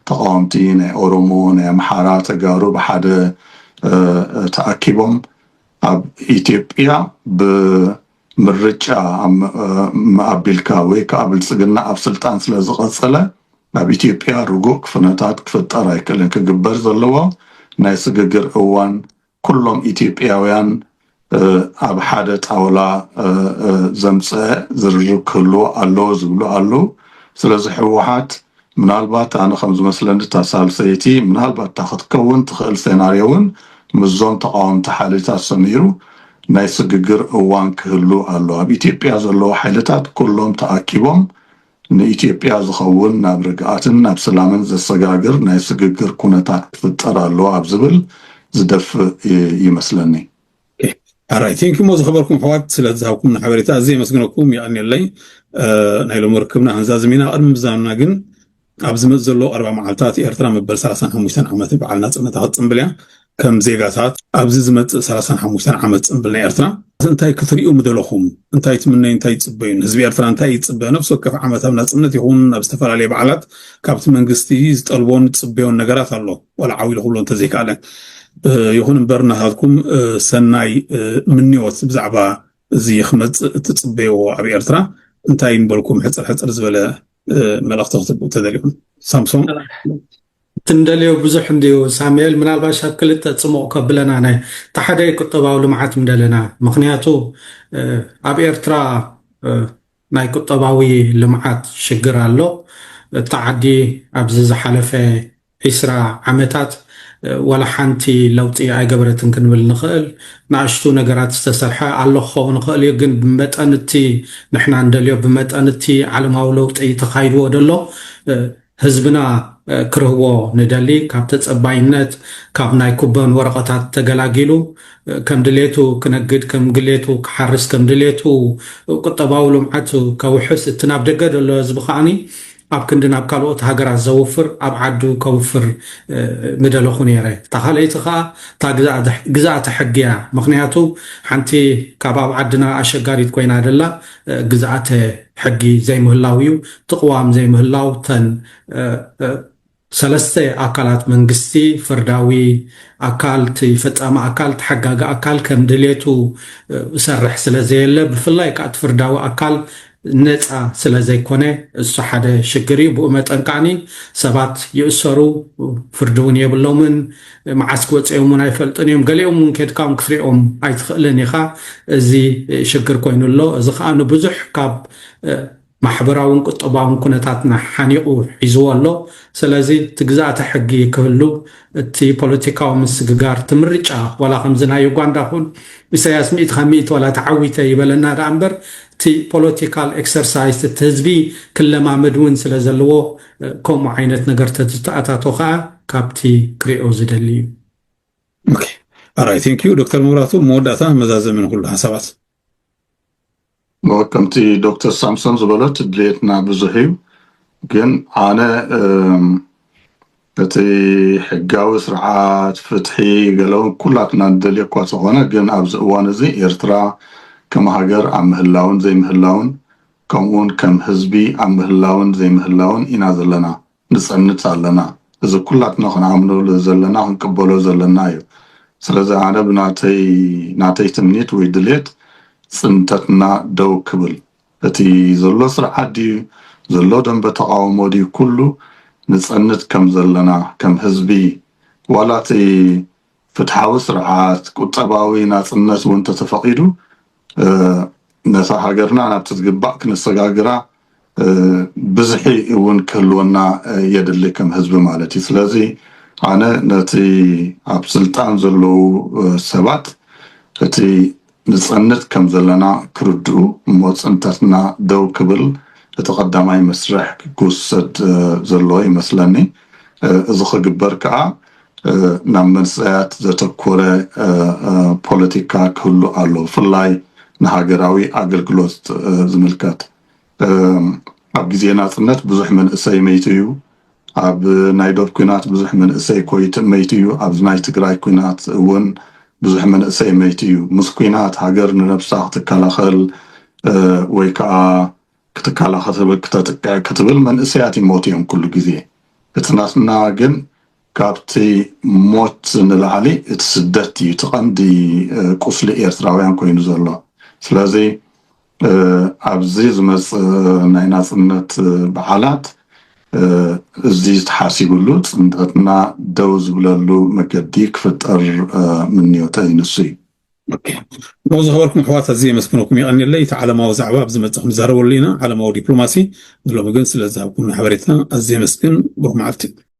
ተቓወምቲ ናይ ኦሮሞ ናይ ኣምሓራ ተጋሩ ብሓደ ተኣኪቦም ኣብ ኢትዮጵያ ብምርጫ ኣቢልካ ወይ ከዓ ብልፅግና ኣብ ስልጣን ስለ ዝቐፀለ ኣብ ኢትዮጵያ ርጉእ ክፍነታት ክፍጠር ኣይክእልን። ክግበር ዘለዎ ናይ ስግግር እዋን ኩሎም ኢትዮጵያውያን ኣብ ሓደ ጣውላ ዘምፀ ዝርርብ ክህልዎ ኣለዎ ዝብሉ ኣለው። ስለዚ ህወሓት ምናልባት ኣነ ከም ዝመስለኒ እታ ሳልሰይቲ ምናልባት እታ ክትከውን ትኽእል ሴናርዮ እውን ምስዞም ተቓወምቲ ሓይልታት ሰሚሩ ናይ ስግግር እዋን ክህሉ ኣሎ ኣብ ኢትዮጵያ ዘለዉ ሓይልታት ኩሎም ተኣኪቦም ንኢትዮጵያ ዝኸውን ናብ ርግኣትን ናብ ስላምን ዘሰጋግር ናይ ስግግር ኩነታት ክፍጠር ኣለዎ ኣብ ዝብል ዝደፍእ ይመስለኒ። ኣራይ ቴንኪ ሞ ዝኸበርኩም ኣሕዋት ስለ ዝሃብኩም ሓበሬታ እዚ የመስግነኩም ይቀኒለይ ናይ ሎሚ ርክብና ህንዛዝም ኢና ቅድሚ ምዛምና ግን ኣብ ዝመፅ ዘሎ ኣርባ መዓልታት ኤርትራ መበል 35 ዓመት በዓል ናፅነታ ክትፅምብል እያ ከም ዜጋታት ኣብዚ ዝመፅእ 35 ዓመት ፅምብል ናይ ኤርትራ እንታይ ክትሪኡ ምደለኹም እንታይ ትምነዩ እንታይ ይፅበዩን ህዝቢ ኤርትራ እንታይ ይፅበ ነፍሲ ወከፍ ዓመት ኣብ ናፅነት ይኹን ኣብ ዝተፈላለየ በዓላት ካብቲ መንግስቲ ዝጠልቦን ዝፅበዮን ነገራት ኣሎ ዋላ ዓው ኢሉ ክብሎ እንተዘይከኣለ ይኹን እምበር ናታትኩም ሰናይ ምንዮት ብዛዕባ እዚ ክመፅእ እትፅበይዎ ኣብ ኤርትራ እንታይ ንበልኩም ሕፅር ሕፅር ዝበለ መልእኽቲ ክትብኡ ተደሊኹም ሳምሶም ትንደልዮ ብዙሕ እንድዩ ሳሙኤል ምናልባሽ ኣብ ክልተ ፅሙቕ ከብለና ናይ ተሓደ ቁጠባዊ ልምዓት ምደለና ምክንያቱ ኣብ ኤርትራ ናይ ቁጠባዊ ልምዓት ሽግር ኣሎ። እታ ዓዲ ኣብዚ ዝሓለፈ ዕስራ ዓመታት ዋላ ሓንቲ ለውጢ ኣይገበረትን ክንብል ንኽእል። ንኣሽቱ ነገራት ዝተሰርሐ ኣሎ ክኸውን ይኽእል እዩ፣ ግን ብመጠን እቲ ንሕና እንደልዮ ብመጠን እቲ ዓለማዊ ለውጢ ተኻይድዎ ደሎ ህዝብና ክርህዎ ንደሊ ካብ ተጸባይነት ካብ ናይ ኩበን ወረቐታት ተገላጊሉ ከም ድሌቱ ክነግድ ከም ግሌቱ ክሓርስ ከም ድሌቱ ቁጠባዊ ልምዓት ከውሕስ እቲ ናብ ደገ ዘሎ ህዝቢ ከኣኒ ኣብ ክንዲ ናብ ካልኦት ሃገራት ዘውፍር ኣብ ዓዱ ከውፍር ምደለኹ ነይረ እታ ካልኣይቲ ከኣ እታ ግዝኣተ ሕጊ እያ ምክንያቱ ሓንቲ ካብ ኣብ ዓድና ኣሸጋሪት ኮይና ደላ ግዝኣተ ሕጊ ዘይምህላው እዩ። እቲ ቅዋም ዘይምህላው እተን ሰለስተ ኣካላት መንግስቲ፣ ፍርዳዊ ኣካል፣ እቲ ፈጻሚ ኣካል፣ እቲ ሓጋጊ ኣካል ከም ድሌቱ እሰርሕ ስለ ዘየለ ብፍላይ ከዓ እቲ ፍርዳዊ ኣካል ነፃ ስለ ዘይኮነ እሱ ሓደ ሽግር እዩ ብኡ መጠን ከዓኒ ሰባት ይእሰሩ ፍርዲ እውን የብሎምን መዓስ ክወፀዮም እውን ኣይፈልጡን እዮም ገሊኦም እውን ኬድካውን ክትሪኦም ኣይትኽእልን ኢኻ እዚ ሽግር ኮይኑ ኣሎ እዚ ከዓ ንብዙሕ ካብ ማሕበራውን ቁጠባውን ኩነታትና ሓኒቑ ሒዝዎ ኣሎ ስለዚ እቲ ግዝኣተ ሕጊ ክህሉ እቲ ፖለቲካዊ ምስግጋር እቲ ምርጫ ዋላ ከምዚ ናይ ዩጋንዳ ኩን ኢሳያስ ሚእቲ ካብ ሚእቲ ዋላ ተዓዊተ ይበለና ደኣ እምበር እቲ ፖለቲካል ኤክሰርሳይዝ እቲ ህዝቢ ክለማመድ እውን ስለ ዘለዎ ከምኡ ዓይነት ነገር ተዝተኣታቶ ከዓ ካብቲ ክሪኦ ዝደሊ እዩ። ኦኬ ኣራይ ቴንክ ዩ ዶክተር መብራቱ መወዳእታ መዛዘሚ ንኩሉ ሓሳባት ከምቲ ዶክተር ሳምሶን ዝበለት ድሌትና ብዙሕ እዩ ግን ኣነ እቲ ሕጋዊ ስርዓት ፍትሒ ገለው ኩላትና ንደልዮ እኳ ተኾነ ግን ኣብዚ እዋን እዚ ኤርትራ ከም ሃገር ኣብ ምህላውን ዘይምህላውን ከምኡውን ከም ህዝቢ ኣብ ምህላውን ዘይምህላውን ኢና ዘለና ንጸንት ኣለና እዚ ኩላትና ክንኣምነሉ ዘለና ክንቅበሎ ዘለና እዩ ስለዚ ኣነ ብናተይ ናተይ ትምኒት ወይ ድሌት ጽንተትና ደው ክብል እቲ ዘሎ ስርዓት ድዩ ዘሎ ደንበ ተቓውሞ ድዩ ኩሉ ንጸንት ከም ዘለና ከም ህዝቢ ዋላ እቲ ፍትሓዊ ስርዓት፣ ቁጠባዊ ናጽነት እውን ተተፈቒዱ ነታ ሃገርና ናብቲ ዝግባእ ክነሰጋግራ ብዝሒ እውን ክህልወና የድሊ ከም ህዝቢ ማለት እዩ። ስለዚ ኣነ ነቲ ኣብ ስልጣን ዘለዉ ሰባት እቲ ንጸንት ከም ዘለና ክርድኡ እሞ ጽንተትና ደው ክብል እቲ ቀዳማይ መስርሕ ክውሰድ ዘለዎ ይመስለኒ። እዚ ክግበር ከኣ ናብ መንሰያት ዘተኮረ ፖለቲካ ክህሉ ኣለዎ ብፍላይ ንሃገራዊ ኣገልግሎት ዝምልከት። ኣብ ግዜ ናጽነት ብዙሕ መንእሰይ መይቱ እዩ ኣብ ናይ ዶብ ኩናት ብዙሕ መንእሰይ ኮይት መይቱ እዩ ኣብዚ ናይ ትግራይ ኩናት እውን ብዙሕ መንእሰይ መይቱ እዩ ምስ ኩናት ሃገር ንነብሳ ክትከላኸል ወይ ከዓ ክትከላኸል ክትብል መንእሰያት ይሞቱ እዮም ኩሉ ግዜ እቲ ናትና ግን ካብቲ ሞት ንላዕሊ እቲ ስደት እዩ እቲ ቀንዲ ቁስሊ ኤርትራውያን ኮይኑ ዘሎ። ስለዚ ኣብዚ ዝመጽእ ናይ ናጽነት በዓላት እዚ ተሓሲብሉ ጽንተትና ደው ዝብለሉ መገዲ ክፍጠር ምንዮተይ ንሱ እዩ። ብኡ ዝኸበርኩም ኣሕዋት ኣዝየ የመስግነኩም የቐንየለይ። እቲ ዓለማዊ ዛዕባ ኣብ ዝመጽእ ክንዛረበሉ ኢና፣ ዓለማዊ ዲፕሎማሲ፣ ንሎሚ ግን ስለዝሃብኩምና ሓበሬታ ኣዝየ የመስግን። ብሩኽ መዓልቲ።